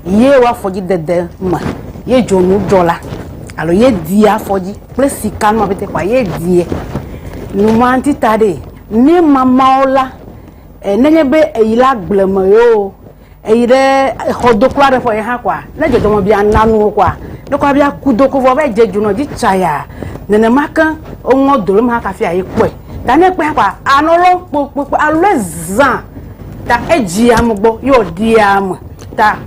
ye wa fɔdzi dede ma ye dzonu dzɔ la alo ye dia fɔdzi kple sika nua bete kwa ye die numa ti ta de mi mamawo la e ne nye be eyi la gble me yo eyi ɖe exɔ do kura ɖe fɔ ye ha kwa ne dzɔdzɔ me bia nanu kwa ne kwa bia ku do ko vɔ be dze dzonu dzi tsaya nenema ke oŋɔ dolo ma kafia ye kɔe ta ne kpea kpa anɔ lɔ kpokpokpo alo ezã ta edzi ame gbɔ ye wòɖi ame ta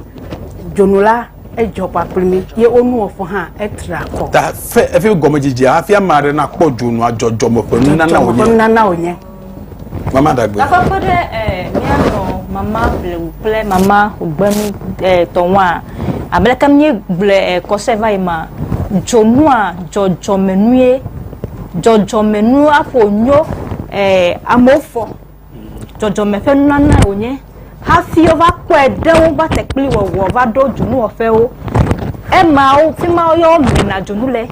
dzonu la edzɔ kpakple mi ye wonuwɔƒe hã etra kɔ. ta fe efi gɔmedzedzea hafi ame aɖe nakpɔ dzonua dzɔdzɔme ƒe nunana wònye. dzɔdzɔme ƒe nunana wònye. mama dagbe. gakpɔ kpe ɖe eh, míanɔ mama blewu kple mama gbenu eh, tɔnwaa abe leke míegblɔe eh, kɔse va yi ma dzonua dzɔdzɔme nue dzɔdzɔme nua ƒo nyo eh, amewo fɔ dzɔdzɔme ƒe nunana wònye hafi wova kpɔe ɖe wo va tekpli wɔwɔ va ɖo dzonuwɔƒewo emawo fi ma yɔ mena dzonu le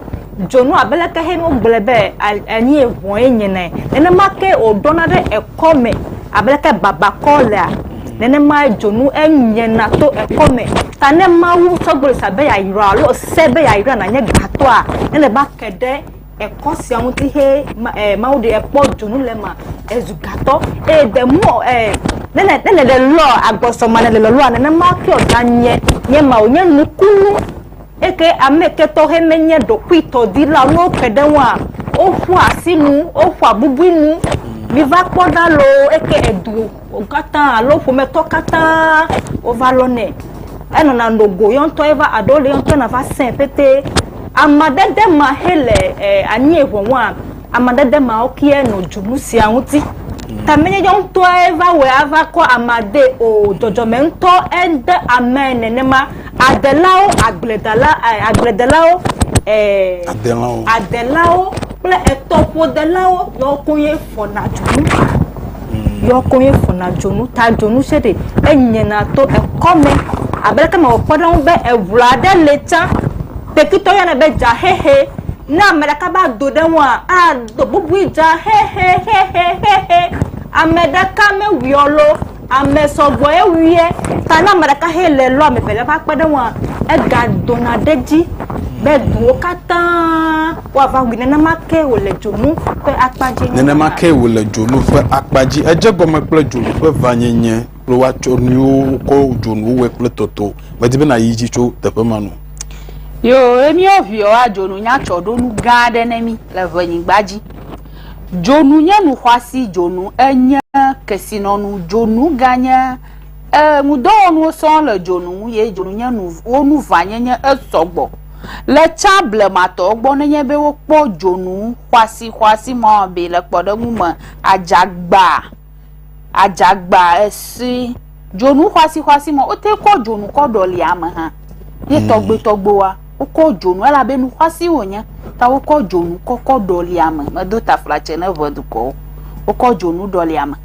dzonu abe leke he no gblẽ be anyi eʋɔe nye nɛ nenema ke wòɖɔna ɖe ekɔ me abe leke babakɔ lea Nenemae dzonu enyena to ekɔ me. Ta ne Mawu tsɔ gbɔlo sia be yeayra alo se be yeayra nànye gatɔa, ele be ake ɖe ekɔ sia ŋuti he ma e Mawu ɖe ekpɔ dzonu le ema ezu gatɔ. Eye the more e ne ne ne le lɔa agbɔsɔma ne le lɔa nenema ke wòganye nye ma wònye nukunu eke ame ke tɔ he menye ɖokuitɔdila ne woke ɖe ŋua woƒua asinu woƒua bubui nu. Miva kpɔ ɖa loo eke edu. Wo katã alo ƒometɔ katã wova lɔ nɛ. Enɔna no go yɔ ŋutɔ ye va aɖewo le yɔ ŋutɔ na va sɛ̃ pɛtɛ. Amadede ma xe le e, anyi eŋɔŋɔa, amadede ma wo kia nɔ dzu nu sia ŋuti. Mm. Ta menye yɔ ŋutɔe va wɔ ava kɔ amade o, dzɔdzɔme ŋutɔ ede ame nenema. Adelawo, agbledala, eh, agbledelawo, eh, adelawo, adelawo kple etɔƒodelawo yɔ koe fɔna dzonu yɔ ko ye fɔna dzonu ta dzonu se ɖe enyena to ekɔme abe leke mewɔ kpɔ ɖe ŋu be eŋu aɖe le tsã tekitɔ yɔnɛ be dzaxexe ne ame ɖeka va do ɖe ŋua ado bubui dzaxexexexexe ame ɖeka mewuiɔ lo Ame sɔgbɔe wuiɛ ta ne ame ɖeka hɛ le lɔ ame evelia ƒe akpeɖeŋua, egagdona ɖe edzi be duwo katã woava wui. Nenema ke wòle dzonu ƒe akpa dzi. Nenema ke wòle dzonu ƒe akpa dzi. Edze egɔme kple dzonu ƒe vanyenye kple woatsɔ nuyiwo wokɔ dzonu wɔe kple tɔtɔ. Medi be nàyi edzi tso teƒe ma nu. Yoo, míawo viwoa, dzonunya tsɔ ɖo nu gã aɖe ne mí le ŋɛnyigba dzi. Dzonu nye nu xɔasi dzonu enye kesinɔnu dzonu ganye eŋudɔwɔnuwo sɔŋ le dzonu ŋu ye dzonu nye nu wo nu ʋãnyenye esɔgbɔ le tsã blematɔwo gbɔ nenye be wokpɔ dzonu xɔasixɔasi mɔamee le kpɔɖeŋu me adzagba. Adzagba esi dzonu xɔasixɔasi me wote kɔ dzonu kɔ ɖɔli ame hã ye hmm. tɔgbuitɔgbuiwoa wokɔ dzonu elabe nu xɔasi wònye ta wokɔ dzonu kɔkɔ ɖɔli ame medo taflatse ne ʋe dukɔwo wokɔ dzonu ɖɔli ame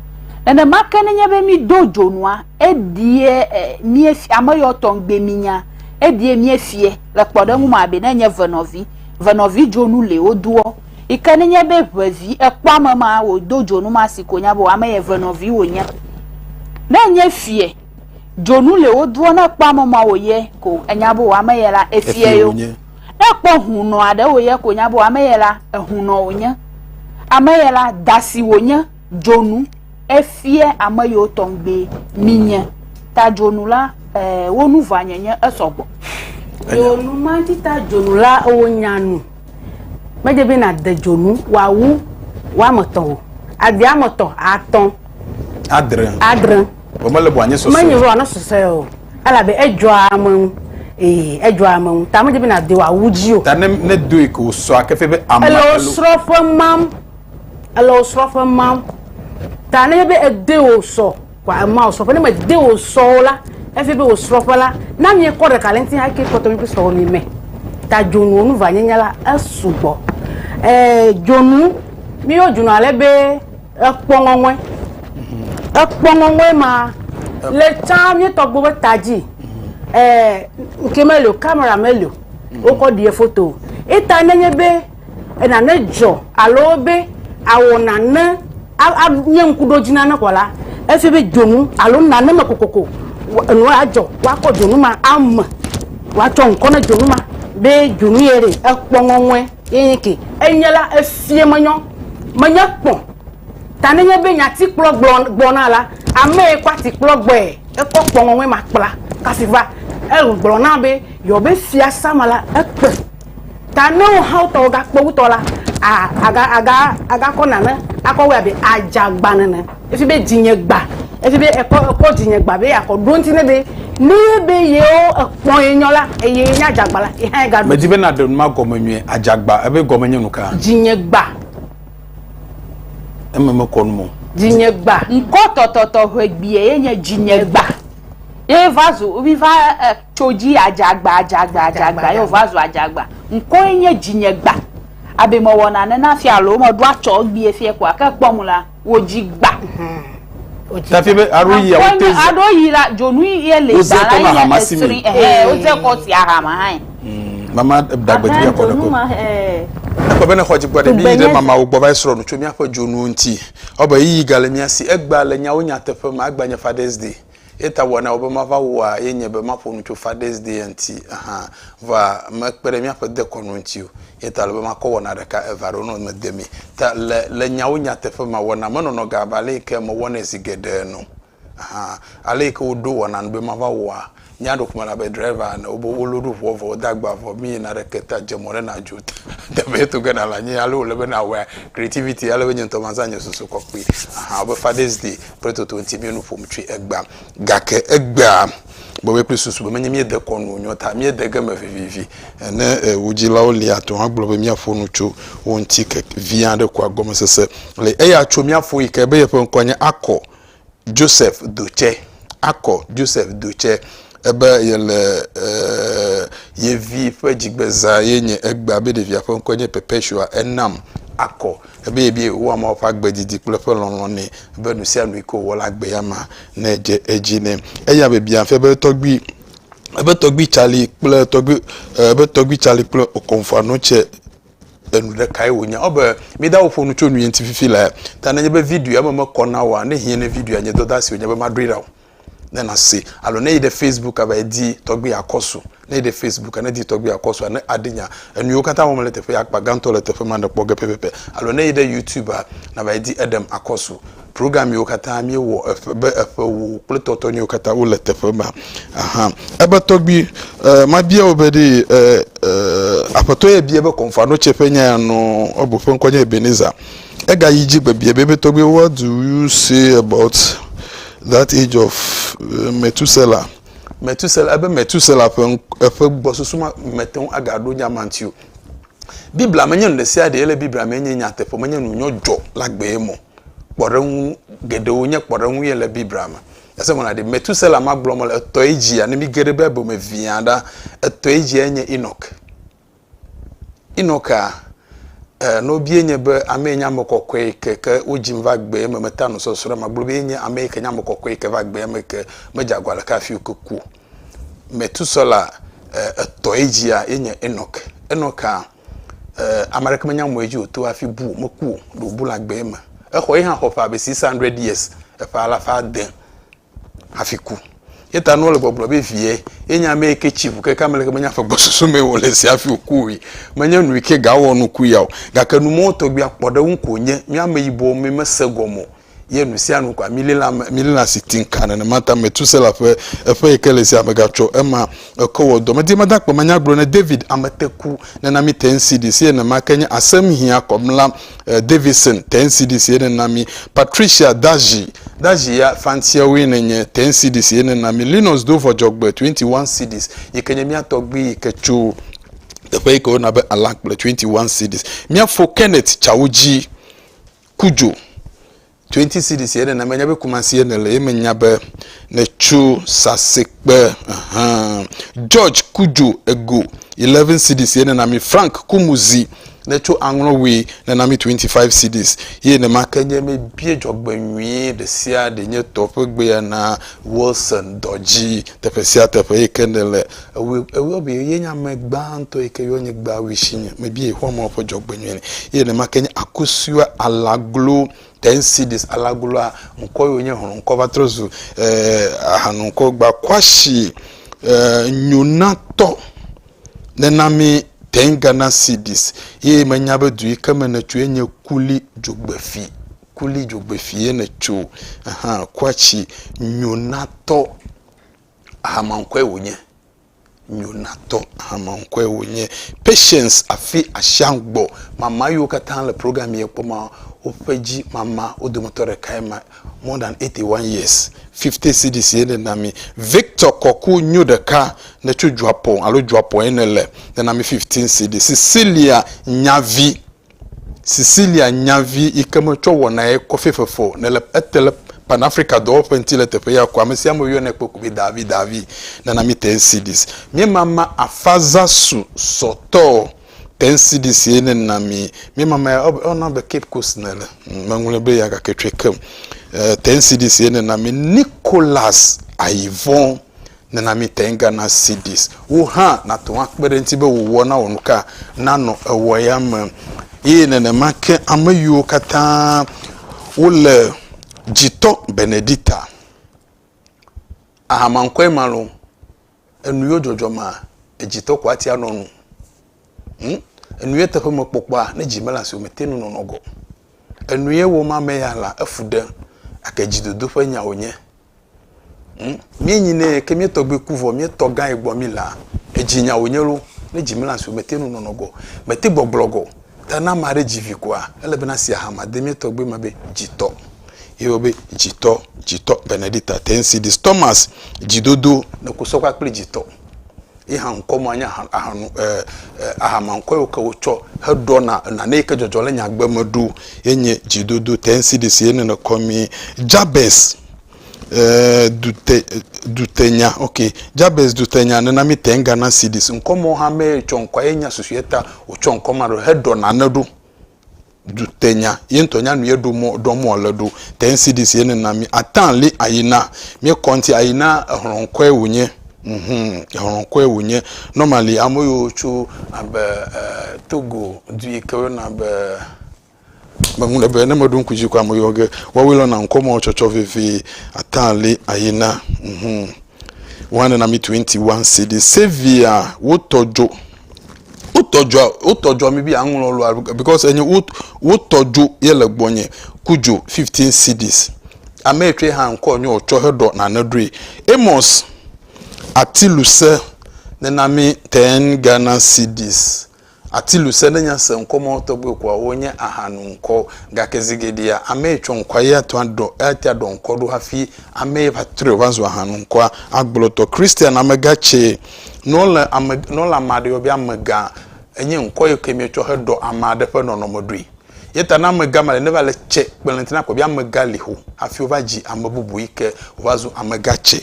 nenema ke nenye be mído dzonua edie eh, míefia ame yɔ tɔŋgbe mínya edie míefie le kpɔɖeŋu me abe ne nye venɔvi venɔvi dzonu le wodoɔ Yi ke nenye be ʋe vi ekpɔ ame ma wòdo dzonu ma si ko nya be ame yɛ ʋe nɔvi wònye. Ne enye fiɛ, dzonu le wodoɔ ne ekpɔ ame ma wòyɛ ko enya be ame yɛ la efiɛ yo. Ne ekpɔ hunɔ aɖe wòyɛ ko nya be ame yɛ la ehunɔ wònye. Ame yɛ la da si wònye Dzonu, Efia ame yiwo tɔgbi minye. Ta dzonu la, ee, wo nu vanye nye esɔ gbɔ. Dzonu ma ti ta dzonu la, wo nya nu. Medze be na de dzonu wawu wametɔ o. Ade ametɔ, atɔ. Adre. Adre. Bo mele bo anye sɔsɔ. Menye bo anye sɔsɔ o. Ala be edzɔa amenu. Ee, edzɔa amenu. Ta medze be na de wawu ji o. Ta ne ne doe ko sɔ akefe be ame. Ele osrɔ fe mam. ele wò srɔ̃ƒe mam ta nenye be ede wò sɔ kɔa ema wò srɔ̃ƒe ne mede wò sɔ o la efi be wò srɔ̃ƒe la na miekɔ ɖeka le ŋuti hake kpɔtɔ mi kple srɔ̃wò mi me ta dzonuwo nu va nyenya la esugbɔ ɛɛ dzonu miyɔ dzonu ale be ekpɔ ŋɔŋɔe ekpɔ ŋɔŋɔe ma le tsã mietɔ gbɔ be ta dzi ɛɛ nke meli o kamera meli o wokɔ ɖie foto eta nenye be nane dzɔ alo be awɔ nane anye ŋkuɖodzi na ne kɔ la, efia be dzonu alo nane me kokoko enu adzɔ woakɔ dzonu ma ame woatsɔ ŋkɔ ne dzonu ma be dzonu ye ɖe ekpɔ ŋɔŋɔe ye nye ke enye la efia menyɔ menye kpɔ ta nenye be nyati kplɔ gblɔ gbɔna la ame ye kɔ ati kplɔ gbɔe ekɔ kpɔ ŋɔŋɔe ma kpla kafi va egblɔ na be yɔ be fiasa ma la ekpe Ta ne wohawo tɔwo gakpe wu tɔ la, agakɔ nane akɔ wɛ abe adzagba nene. Efi be dzinye gba, efi be ekɔ dzinye gba be yeakɔ ɖo ŋuti ne be ne be yewo ekpɔ ye nyɔ la, eye yenye adzagba la, ye hã ye gaɖo. Medi be nàɖe nu ma gɔme nyuie, adzagba, ebe gɔme nye nuka? Dzinye gba. Eme mekɔ nu me o. Dzinye gba. Ŋkɔ tɔtɔtɔ ʋegbie ye nye dzinye gba. Ye va zu, mi va. Tso dzi yi adzagba, adzagba, adzagba ye wòva zu adzagba. Ŋkɔe nye dzinyegba. Abe mewɔ nane na fia alo meɖo atsɔ egbee fiɛ koa, ke kpɔ ŋu la, wòdzi gba. Tafi be aɖo yi awo te za. Aɖo yi la, dzonu ye le gba la yi nye esri. Wodze kɔ si ahama hã. Hmm, mama da gbe dzi akɔ ne ko. Ekpɔ be ne xɔ dzi gbɔ ɖe mi yi ɖe mamawo gbɔ va yi srɔ̃ nu tso míaƒe dzonuwo ŋuti. Ewɔ be yi yi gale mía si. Egbea le nyawo nyateƒe me agbanye Father's Day. Eya ta wɔnawo be mava wɔa ye nye be maƒo nu tso Fathers Day ŋuti hã. Vɔa mekpe ɖe míaƒe dekɔnu ŋuti o. Eya ta ele be makɔ wɔna ɖeka, eve alo enɔ me de mi. Ta le, le nyawo nyateƒe mea, wɔna menɔnɔ gã abe ale yi ke mewɔnɛ zi geɖe ene o. Hã. Ale yi ke woɖo wɔna nu be mava wɔa mía ɖokui me la be driver ene. Wobe wo load ŋua vɔ wode agba vɔ mi yina ɖe ke ta dze mɔ ɖe nàdzo teƒe to ge nàle anyi. Ale wòle be nàwɔa creativity ale be nye ŋutɔ mazã nye susu kɔ kpli. Hã. Wobe Fathers Day. kple toto ŋuti mie nu ƒom tsoe egbea. Gake egbea bɔbɔe kple susu be menye míede kɔ nu nyɔ ta míede ge me vivivi. Ne wò dzilawo li ate ŋu agblɔ be míaƒo nu tso wo ŋuti ke vi aɖe koa gɔmesese li. Eya tso mía fo yi ke be yeƒe ŋkɔ nye Akɔ Joseph Dotse. Akɔ Joseph Dotse ebe yele ye vi ƒe dzigbezã ye nye egbea be ɖevia ƒe ŋkɔe nye Perpetua Enam Akɔ. Ebe ye be wowɔ Mawu ƒe agbe didi kple eƒe lɔlɔ̃ nɛ, be nu sia nu yi ke wòwɔ la, agbe ya ma ne dze edzi nɛ. Eya biabia fia be tɔgbui, ebe tɔgbui Charlie kple tɔgbui, ebe tɔgbui Charlie kple Okomfo-Anokye tse enu ɖekae wònye. Ewɔ abe mídao ƒo nu tso nu ye ŋuti fifi laa. Ta nenye be videoa me mekɔ na wòa, ne hiã ne videoa nye dɔdasi wònye be maɖoe ɖa o. ne nase alo ne yi ɖe facebook ava yi di tɔgbi yakɔsu ne yi ɖe facebook ne di tɔgbi yakɔsu ne aɖi nya enuwo katã wɔm le teƒe akpa gãtɔ le teƒe ma ne kpɔ ge pɛpɛpɛ alo ne yi ɖe youtube a nava yi di eɖem akɔsu program yiwo katã mi wɔ eƒe be eƒe wo kple tɔtɔ nyiwo katã wo le teƒe ma aha ebe tɔgbi e, eh, ma bia wo be ɖi e, eh, e, eh, aƒetɔ ye bia be kɔnfa no tse ƒe nya ya nɔ ebo ƒe ŋkɔ nye ebeneza ega yi dzi gbe bia be be tɔgbi what do you say about That age of uh, Methuselah. Methuselah, ebe Methuselah ƒe eƒe gbɔsusu ma mete ŋu agaɖo nya ma ŋuti o. Biblia menye nu ɖe sia ɖe le Biblia me nye nyateƒe, menye nu nyɔdzɔ la gbee mɔ. Kpɔɖeŋu geɖewo nye kpɔɖeŋu ye le Biblia me. Ese mɔna ɖe Methuselah ma gblɔm le etɔe dzia, ne mi ge ɖe Bible me viã ɖa, etɔe dzia nye Enoch. Enoka, e, nobie nye be ame nye ame kɔkɔe ke ke wodzim va gbee me meta no sɔsrɔ̃ ma gblɔ be nye ame ke nye ame kɔkɔe ke va gbea me ke medze agɔ aleke hafi wo ke ku. Metusela, e, etɔ edzia ye nye Enok. Enoka, e, ame aɖeke menya mɔ edzi wòto hafi bu meku ɖe wòbu le agbee me. Exɔ ye hã xɔ ƒe abe six hundred years eƒe alafa ade hafi ku. Ye ta nua le gbɔgblɔ be vie, ye nya ame ke tsi ʋu keke ame leke menya ƒe gbɔsusu me wòle zi hafi wòku oe. Menye nu yi ke ga wɔ nuku ya o. Gake nu mɔwo tɔgbi akpɔ ɖe eŋu ko nye mía ameyibɔ mi mese gɔme o ye nu sia nu kɔa mi lila mi lila si tiŋ kaa nenema ta Metusela ƒe eƒe yi ke le zia me gatsɔ ema Eko wɔ dɔmedie madakpɔ manya gblɔ ne David ameteku nena mi ten CD sie nema ke nye asem hia kɔmla eh, Davison ten CD sie nena mi Patricia Daji Daji ya fantia woe nenye ten CD sie nena mi Linus do vɔjɔgbe 21 CDs yi ke nye mia tɔgbi yi ke tso teƒe yi ke wona be Alakple 21 CDs mia fo Kenneth Chawuji Kujo 20 cedis ye nena menya be kumasi ye nele ye menya be netso sasekpe ahan george kudzo ego 11 cedis ye nena mi frank kumuzi netso aŋlɔwe nena mi 25 cedis ye nema ke nye me bie dzɔgbe nyuie ɖe sia ɖe nye tɔ ƒe gbea na wilson dɔdzi teƒe sia teƒe yi ke nele Ewɔe, ewɔe be ye nye ame gbãtɔ yi ke yɔ nye gbe awui si nye mebia Yehowa Mawu ƒe dzɔgbenyui nɛ. Eye nenema ke nye Akosua Alaglo ten cedis, Alagloa ŋkɔ ye wònye, hlɔ̃ ŋkɔ va trɔ zu eh, ahanu ŋkɔ Gbakwasi eh, Nyonatɔ nena mi ten Ghana cedis. Eye menya be du yi ke me nètso ye nye Kuli Dzogbefi, Kuli Dzogbefi ye nètso, ahan, Kwatsi Nyonatɔ. Hamaŋkɔe wònye. Nyonatɔ hamaŋkɔe wònye. Patience afi Ashiang gbɔ. Mama yiwo katã le program yɛ kpɔ ma, woƒe dzi mama wo dometɔ ɖekae ma. More than 81 years. 50 cedis ye nèna mi. Victor Kɔku nyo ɖeka ne tso Dzɔapɔn alo Dzɔapɔn ye nele. Nena mi 15 cedis. Cecilia Nyavi Cecilia nya vi yi ke metsɔ wɔnae kɔfe fefɔ ne le ete le Pan-Afrika dɔwɔƒe ŋuti le teƒe ya ko. Amesiame woyɔnɛ kpɔ ko be Davi, Davi, nana mi Teensidis. Míemama afaza su sɔ tɔ Teensidis ye ne na mi. Míemama ya ɔ ɔna be Cape Coast ne le. Hm, meŋlɔe be ya gake tsɔe kem. Eh, Teensidis ye ne na mi Nicholas Ayivɔn. Nana míte ŋu gana CDs wò hã nàte ŋu akpe ɖe eŋuti be wò wɔnawɔnuka nanɔ ewɔya me. Eye nenema ke ame yiwo katã wole dzitɔ Benedicta. Aha mankɔe malo, enu yo dzɔdzɔ ma, edzitɔ ko ati anɔ nu. Hm, enu ye teƒe me kpɔkpɔa, ne dzi mele asi o, mete ŋu nɔnɔ gɔ. Enu ye wɔm ame ya la, efu ɖem gake dzidodo ƒe nya wònye. Hm, míenyi nɛ ke mía tɔgbi ku vɔ mía tɔ gã yi gbɔ mí laa, edzi nya wònye lo, ne dzi mele asi o, mete ŋu nɔnɔ gɔ. Mete gbɔgblɔ gɔ. Ta ne ame aɖe dzi vi kɔa, ele be nasi aha ma de mía tɔgbi me be dzitɔ. Ye wɔ be dzitɔ, dzitɔ Benedicta Tensi Dis Thomas, dzidodo ne ku sɔ kpakple dzitɔ. Ye hã ŋkɔ ma nye ahanu, e, e, ahama ŋkɔ yiwo ke wotsɔ heɖɔna nane yi ke dzɔdzɔ le nyagbe me ɖo ye nye dzidodo tensidis ye nene kɔ mi Jabez, e, dute, dutenya, ok, Jabez dutenya nena mi tengana sidis. Ŋkɔ mawo hã mee tsɔ ŋkɔa ye nya susuetɔ wotsɔ ŋkɔ ma ɖo heɖɔ nane ɖo. dutenya ye ŋutɔ nya nu ye ɖo mɔ ɖɔ mɔ le ɖo te ncds ye nena mi ata li ayina mi kɔ ŋuti ayina ehlɔ ŋkɔe wònye mhm ehlɔ ŋkɔe wònye normally ame yiwo tso abe e togo du yi ke woyɔna be meŋu le be ne meɖo ŋku dzi ko ame yiwo ge woawoe lɔna ŋkɔ mɔ tsɔtsɔ vevie ata li ayina mhm one nena mi twenty one cds savia wotɔ dzo wotɔ dzoa wotɔ dzoa mi bi aŋlɔ lɔa because enye wot wotɔ dzo ye le gbɔnye ku dzo fifteen cds ame etsɔe hã ŋkɔ nye wotsɔ heɖɔ nane ɖoe amos atiluse nena mi ten ghana cds atiluse ne nya se ŋkɔ mɔ tɔgbe kɔa wonye ahanu ŋkɔ gake zigeɖia ame etsɔ ŋkɔa ye ato aɖɔ ate aɖɔ ŋkɔ ɖo hafi ame va trɔe va zu ahanu ŋkɔa agblɔtɔ christian amega tse Ne wolé ame, ne wolé ame aɖe yɔ be amegã, enye ŋkɔ yi ke míetsɔ heɖɔ ame aɖe ƒe nɔnɔme ɖoe. Ye ta ne amegã ma le, ne va le tsɛ kpe le ŋuti na akpɔ be amegã li ho hafi wova dzi ame bubu yi ke wova zu amegã tsɛ.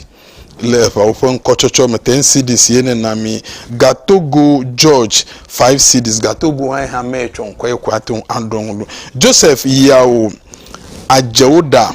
Le eŋawo ƒe ŋkɔtsɔtsɔ me, ten cedis ye nena mí. Gatogo George, five cedis. Gatogo hã yehã meye tsɔ ŋkɔ ye ko ate ŋu aɖɔ nu ɖo. Joseph, yawo, adze wo ɖa.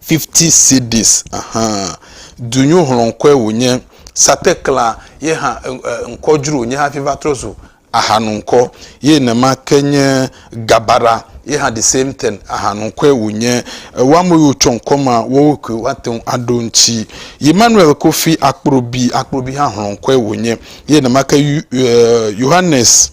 50 cedis hã. Dunyohlɔ̃kɔe wònye. Satekla ye hã ŋkɔ dzro wònye hafi va trɔ zu ahanuŋkɔ. Ye nema ke nye Gabara ye hã the same thing ahanuŋkɔe wònye. Woa me yiwo tsɔ ŋkɔ ma woawoe koe woate ŋu aɖo eŋuti. Emmanuel Kofi Akpro-Bi, Akpro-Bi hã hlɔ̃kɔe wònye. Ye nema ke Yohanes.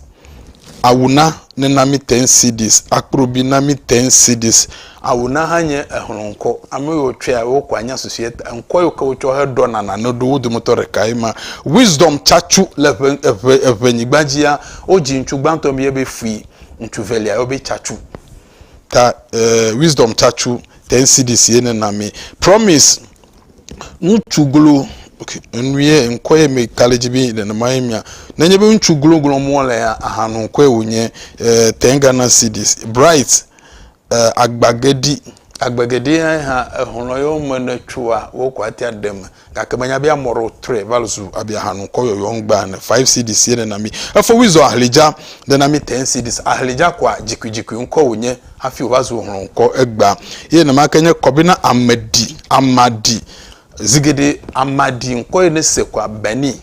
Awuna ne na mi ten cedis. Akprobi na mi ten cedis. Awuna hã nye exlɔ̃ŋkɔ. Ame yiwo tsɔea, wo ko anya susu ye ta. Ŋkɔ yiwo ke wotsɔ heɖɔna nane ɖo, wo dometɔ ɖekae ma. Wisdom Tsatsu le eŋe, eŋe, eŋenyigba dzia, wodzi ŋutsu gbãtɔ mi yɔɛ be Fui, ŋutsu velia yɔɛ be Tsatsu. ta eh, wisdom tatsu ten cds ye ne na mi promise ŋutsu glo ok enuye ŋkɔ ye mi kale dzi bi nenema ye mia nenye be ŋutsu glo glo mɔ le ya ahanu ŋkɔe wonye eh, ten ghana cds bright eh, agbagedi agbegeɖi ya hã ehɔnɔ yewo me ne tsoa wokɔ atia ɖeme Gake menya be amɔ ɖo tre val zu abia hanu kɔ yɔyɔ ŋgba ne 5 cds ye nena mi. Efo wi zɔ ahlidja dena mi 10 cds. Ahlidja kɔa jikui jikui ŋkɔ wo nye hafi wo va zu hlɔ ŋkɔ egba. Ye nema ke nye kɔbi na ame ɖi ama ɖi. Zigeɖe ama ɖi ŋkɔ ye ne se kɔa beni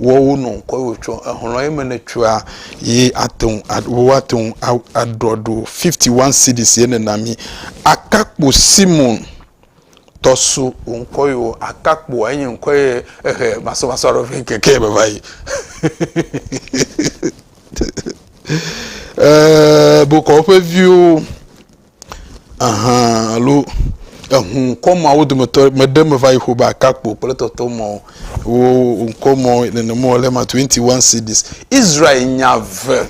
wɔ wo nɔ ŋkɔ ye wo tsɔ ehlɔ ye me ne tsɔa ye ateŋ wo ateŋ adrɔ ɖo 51 cds ye nena mi. Akakpo simon. Tɔsu wò ŋkɔ yi wò atakpoa enye ŋkɔ ye ehe masɔmasɔ aɖe vɛ keke me va yi. Ee, bokɔ woƒe viwo ahan alo ehu ŋkɔ ma wo dometɔ me ɖe me va yi ƒo be atakpo kple tɔtɔ mɔ wo ŋkɔ mɔ nenema wòle ma 21 cities. Israel nya ve.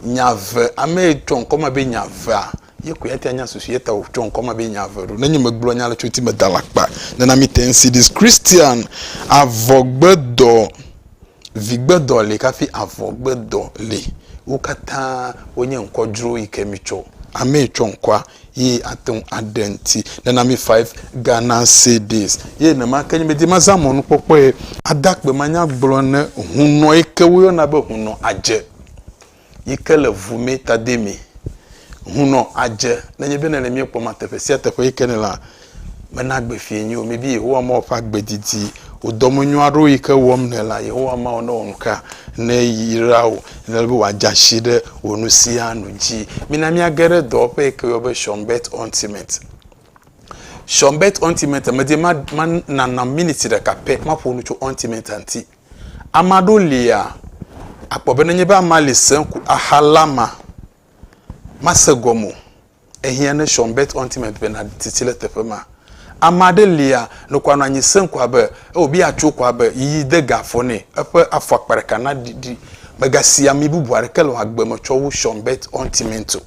Nya ve, ame yi tsɔ ŋkɔ ma be nya vea, ye koe ate anya susu ye ta wòtsɔ ŋkɔ ma be nya ve ɖo. Nenye megblɔ nya le tso ŋuti me da la kpa nena mi te ŋsi dis Christian avɔgbedɔ, vigbedɔ li kafi avɔgbedɔ li. Wo katã wonye ŋkɔ dzro yi ke mi tsɔ. Ame yi tsɔ ŋkɔa ye ate ŋu aɖe ŋuti. Nana mi five Ghana cedis. Ye nema ke nye medi mazã mɔnukpɔkpɔe ade akpe manya gblɔ ne hunɔ yi ke woyɔna be hunɔ adze yi ke le ŋu me tademi. Hunɔ adze nenye be nèle mía kpɔm teƒe sia teƒe yi ke nèlea, Mena gbe fie nyi o. Mibi Yehowa Mawu ƒe agbe didi. Wò dɔmenyo aɖewo yi ke wɔm nèlea, Yehowa Mawu ne wɔ nu ka neyra wò. Nele be wòadze asi ɖe wò nu sia nu dzi. Mina míage ɖe dɔwɔƒe yi ke yɔ be Shonbet Ultimate. Shonbet Ultimate, medi ma, ma nanam miniti ɖeka pɛ maƒo nu tso Ultimate ŋuti. Ame aɖewo lia, akpɔ be nenye be amea li sẽŋ ko, axa lama, mase gɔme o. Ehiã ne Sean Bert Ontimeant be nàɖi tsitsi le teƒe ma. Ame aɖe lia, noko anɔ anyi sẽ ko abe eo be yeatso ko abe yiyi de ga afɔ nɛ. Eƒe afɔ akpa ɖeka naɖiɖi. Mègasi ami bubu aɖeke le wò agbe me tsɔ wu Sean Bert Ontimeant o.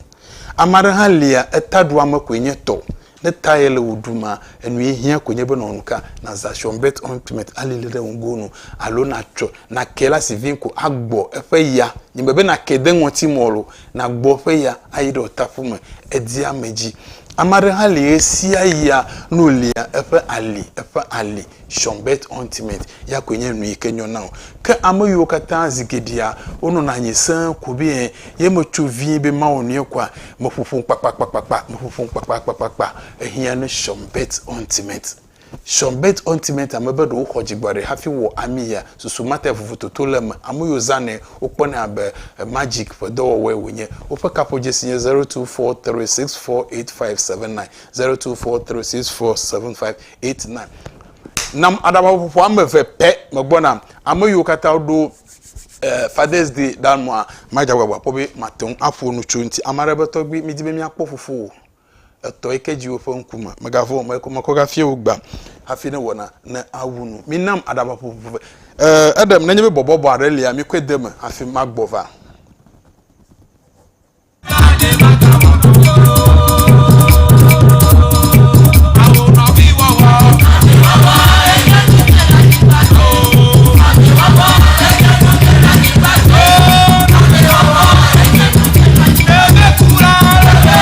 Ame aɖe hã lia, etaɖoame koe nye tɔ. Ne ta yele wò ɖuma, enue hiã koe nye be nɔ nu ka, nàza Sean Bert Ontimeant alilii ɖe ŋgoo nu alo natsɔe, nakee le asi vĩi ko agbɔ eƒe ya. Nyemebe nakee de ŋɔti mɔ o, nàgbɔ eƒe ya ayi ɖe wò taƒu me, èdia ame dzi. Ame aɖe hã li ɣesiaɣia nu lia eƒe ali, eƒe ali, Sean Bert Ointment, ya koe nye nu yi ke nyɔ na wò. Ke ame yiwo katã zi geɖea wonɔna anyi sẽe ko be ye metso vie be mawɔ nuyɛ kɔa, meƒoƒom kpakpakpakpakpa, meƒoƒom kpakpakpakpakpa. Ehiã na Sean Bert Ointment. Sean Burt Ointment ame be ɖewo xɔ dzigbɔɖi hafi wɔ ami ya, susu mate vovo toto le eme. Ame yiwo zãnɛ wokpɔnɛ abe magic ƒe dɔwɔwɔe wònye. Woƒe kaƒodzesi nye zero two four three six four eight five seven nine, zero two four three six four seven five eight nine. Nam aɖabaƒoƒo ame eve pɛ megbɔna. Ame yiwo katã woɖo eh, Father's Day ɖa nua, madze agbagba akpɔ be mate ŋu aƒo nu tso eŋuti. Ame aɖe be, Tɔgbui, midi be míakpɔ fofowò Etɔ yi ke dzi woƒe ŋkume. Megavɔ̃ o, mekɔ mekɔ gafia wò gbam hafi ne wɔna ne awu nu. Minam aɖaba ƒuƒuƒu ve. Ee, eɖem, nenye be bɔbɔbɔ aɖe lia, mikɔe de eme hafi magbɔ va.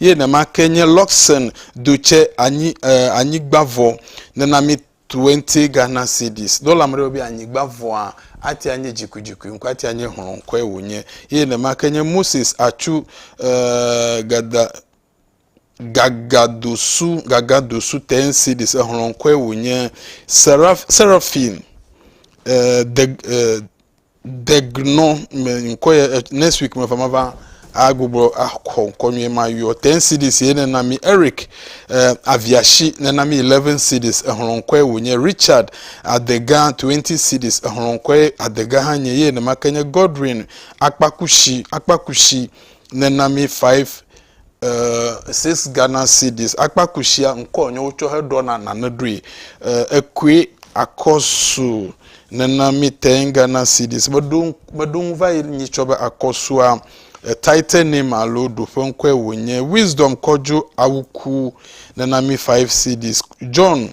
Ye nema ke nye Luxon do tse anyi eh, anyigba vɔ nena mi twenty Ghana cedis. Dɔla me ɖe be anyigba vɔa atia nye dzikudzikui ŋkɔ atia nye hlɔ ŋkɔe wònye. Ye nema ke nye Moses atsu eh, gada gagadosu gagadosu ten cedis ehlɔ ŋkɔe wònye. Seraph, seraphim eh, de eh, Degnɔ me ŋkɔ ye next week me va ma va a gbogbo a xɔ ŋkɔ nyuie ma yɔ 10 cities ye ne na mi Eric eh, aviashi ne na mi 11 cities ehlɔ ŋkɔ ye wonye Richard adega 20 cities ehlɔ ŋkɔ ye adega hã nye ye ne ma ke nye Godwin akpakushi akpakushi ne na mi 5 eh, six Ghana cedis. Akpakushia ŋkɔ nye wotsɔ heɖɔna nane ɖoe. Eh, ekue akɔsu nena mi ten Ghana cedis. Meɖo meɖo ŋu va yi nyitsɔ be akɔsua eh, title name alo ɖoƒe ŋkɔe wònye. Wisdom kɔdzo awuku nena mi five cedis. John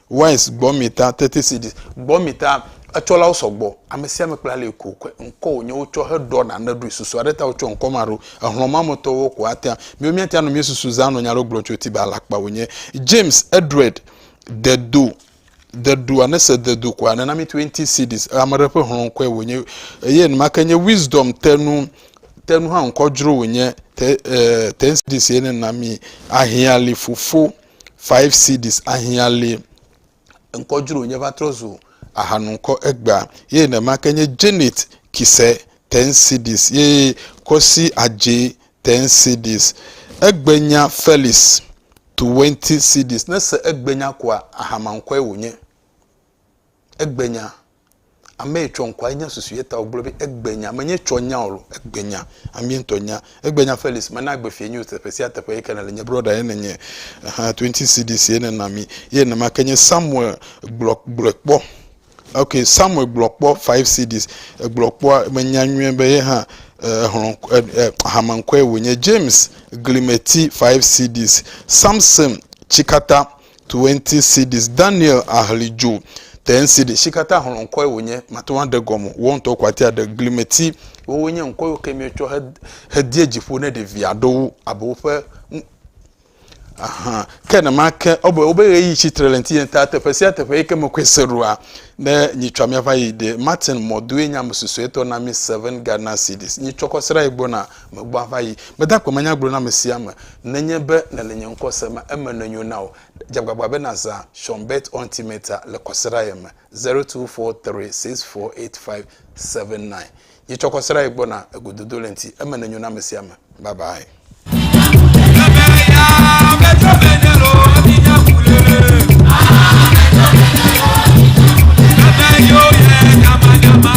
Wise gbɔmita, thirty cedis, gbɔmita, etsɔlawo sɔgbɔ, amesiame kple alii ko wokɔe, ŋkɔ wònye wotsɔ heɖɔ nane ɖoe, susu aɖe ta wotsɔ ŋkɔ ma ɖo, exlɔ̃ ma me tɔwo ko atea, miwo míatea nu míesusu zã nɔ nya aɖewo gblɔm tso ti be alakpa wònye. James Edred, de do, de do, ane se de do koa, nena mi twenty cedis, ame aɖe ƒe hlɔ̃ ŋkɔe wònye, eye enumake nye Wisdom te nu, te nu hã ŋkɔ dzro wònye, te, eh, ten cedis ye nena mi, ahiã li fofo. five cedis ahiã li ŋkɔ dzro wònye va trɔ zu ahanu ŋkɔ egbea ye nenema ke nye Janet Kise ten cedis ye Kosi Adje ten cedis egbenya Felix twenty cedis ne se egbenya koa ahama ŋkɔe wònye. egbenya. Ame yi tsɔ ŋkɔa enya susu ye ta wògblɔ be egbenya. Menye tsɔ nya o, egbenya. Amee ŋutɔ nya. Egbenya Felix, mena agbe fiẽ nyo teƒe sia teƒe yi ke nèle. Nye brɔda ye nènye. Ɛhɛ̃, twenty cedis ye nèna mi. Ye nenema ke nye Samuel, gblɔ, gblɔe kpɔ. Ok, Samuel gblɔ kpɔ five cedis. Egblɔ kpɔa, menya nyuie be ye hã ehlɔ̃, eh, eh, hame ŋkɔe wònye. James, glimeti, five cedis. Samson, tsikata, 20 cedis. Daniel ahli dzo 10 cedis. Shi katã xlɔ ŋkɔe wònye, mate ŋu aɖe gɔme. Wò ŋutɔ ko atea ɖe glimeti. Wowoe nye ŋkɔ yiwo ke míetsɔ he, hedie dzi ƒo ne ɖevi aɖewo abe woƒe Ahan. Ke nemake o be wobe ɣeyiɣi tsi tre le ŋutinye ta teƒe sia teƒe yi ke mekɔe se ɖoa, ne nyitsɔa míava yi ɖe Martin Mɔdoe nye ame susuetɔ na mí seven Ghana cedis. Nyitsɔkɔ srãe gbɔna Megbɔ ava yi gbedakpɔ me nya gblɔ na ame sia ame. Nenye be nèle nye ŋkɔ se ma eme ne nyo na wò. Dze agbagba be nàzã Shonbet Ontimeta le kɔsiɖa ye me, zero two four three six four eight five seven nine. Yi tsɔ kɔsiɖa ye gbɔna egododo le ŋti eme ne nyo na ame sia ame. Bye bye.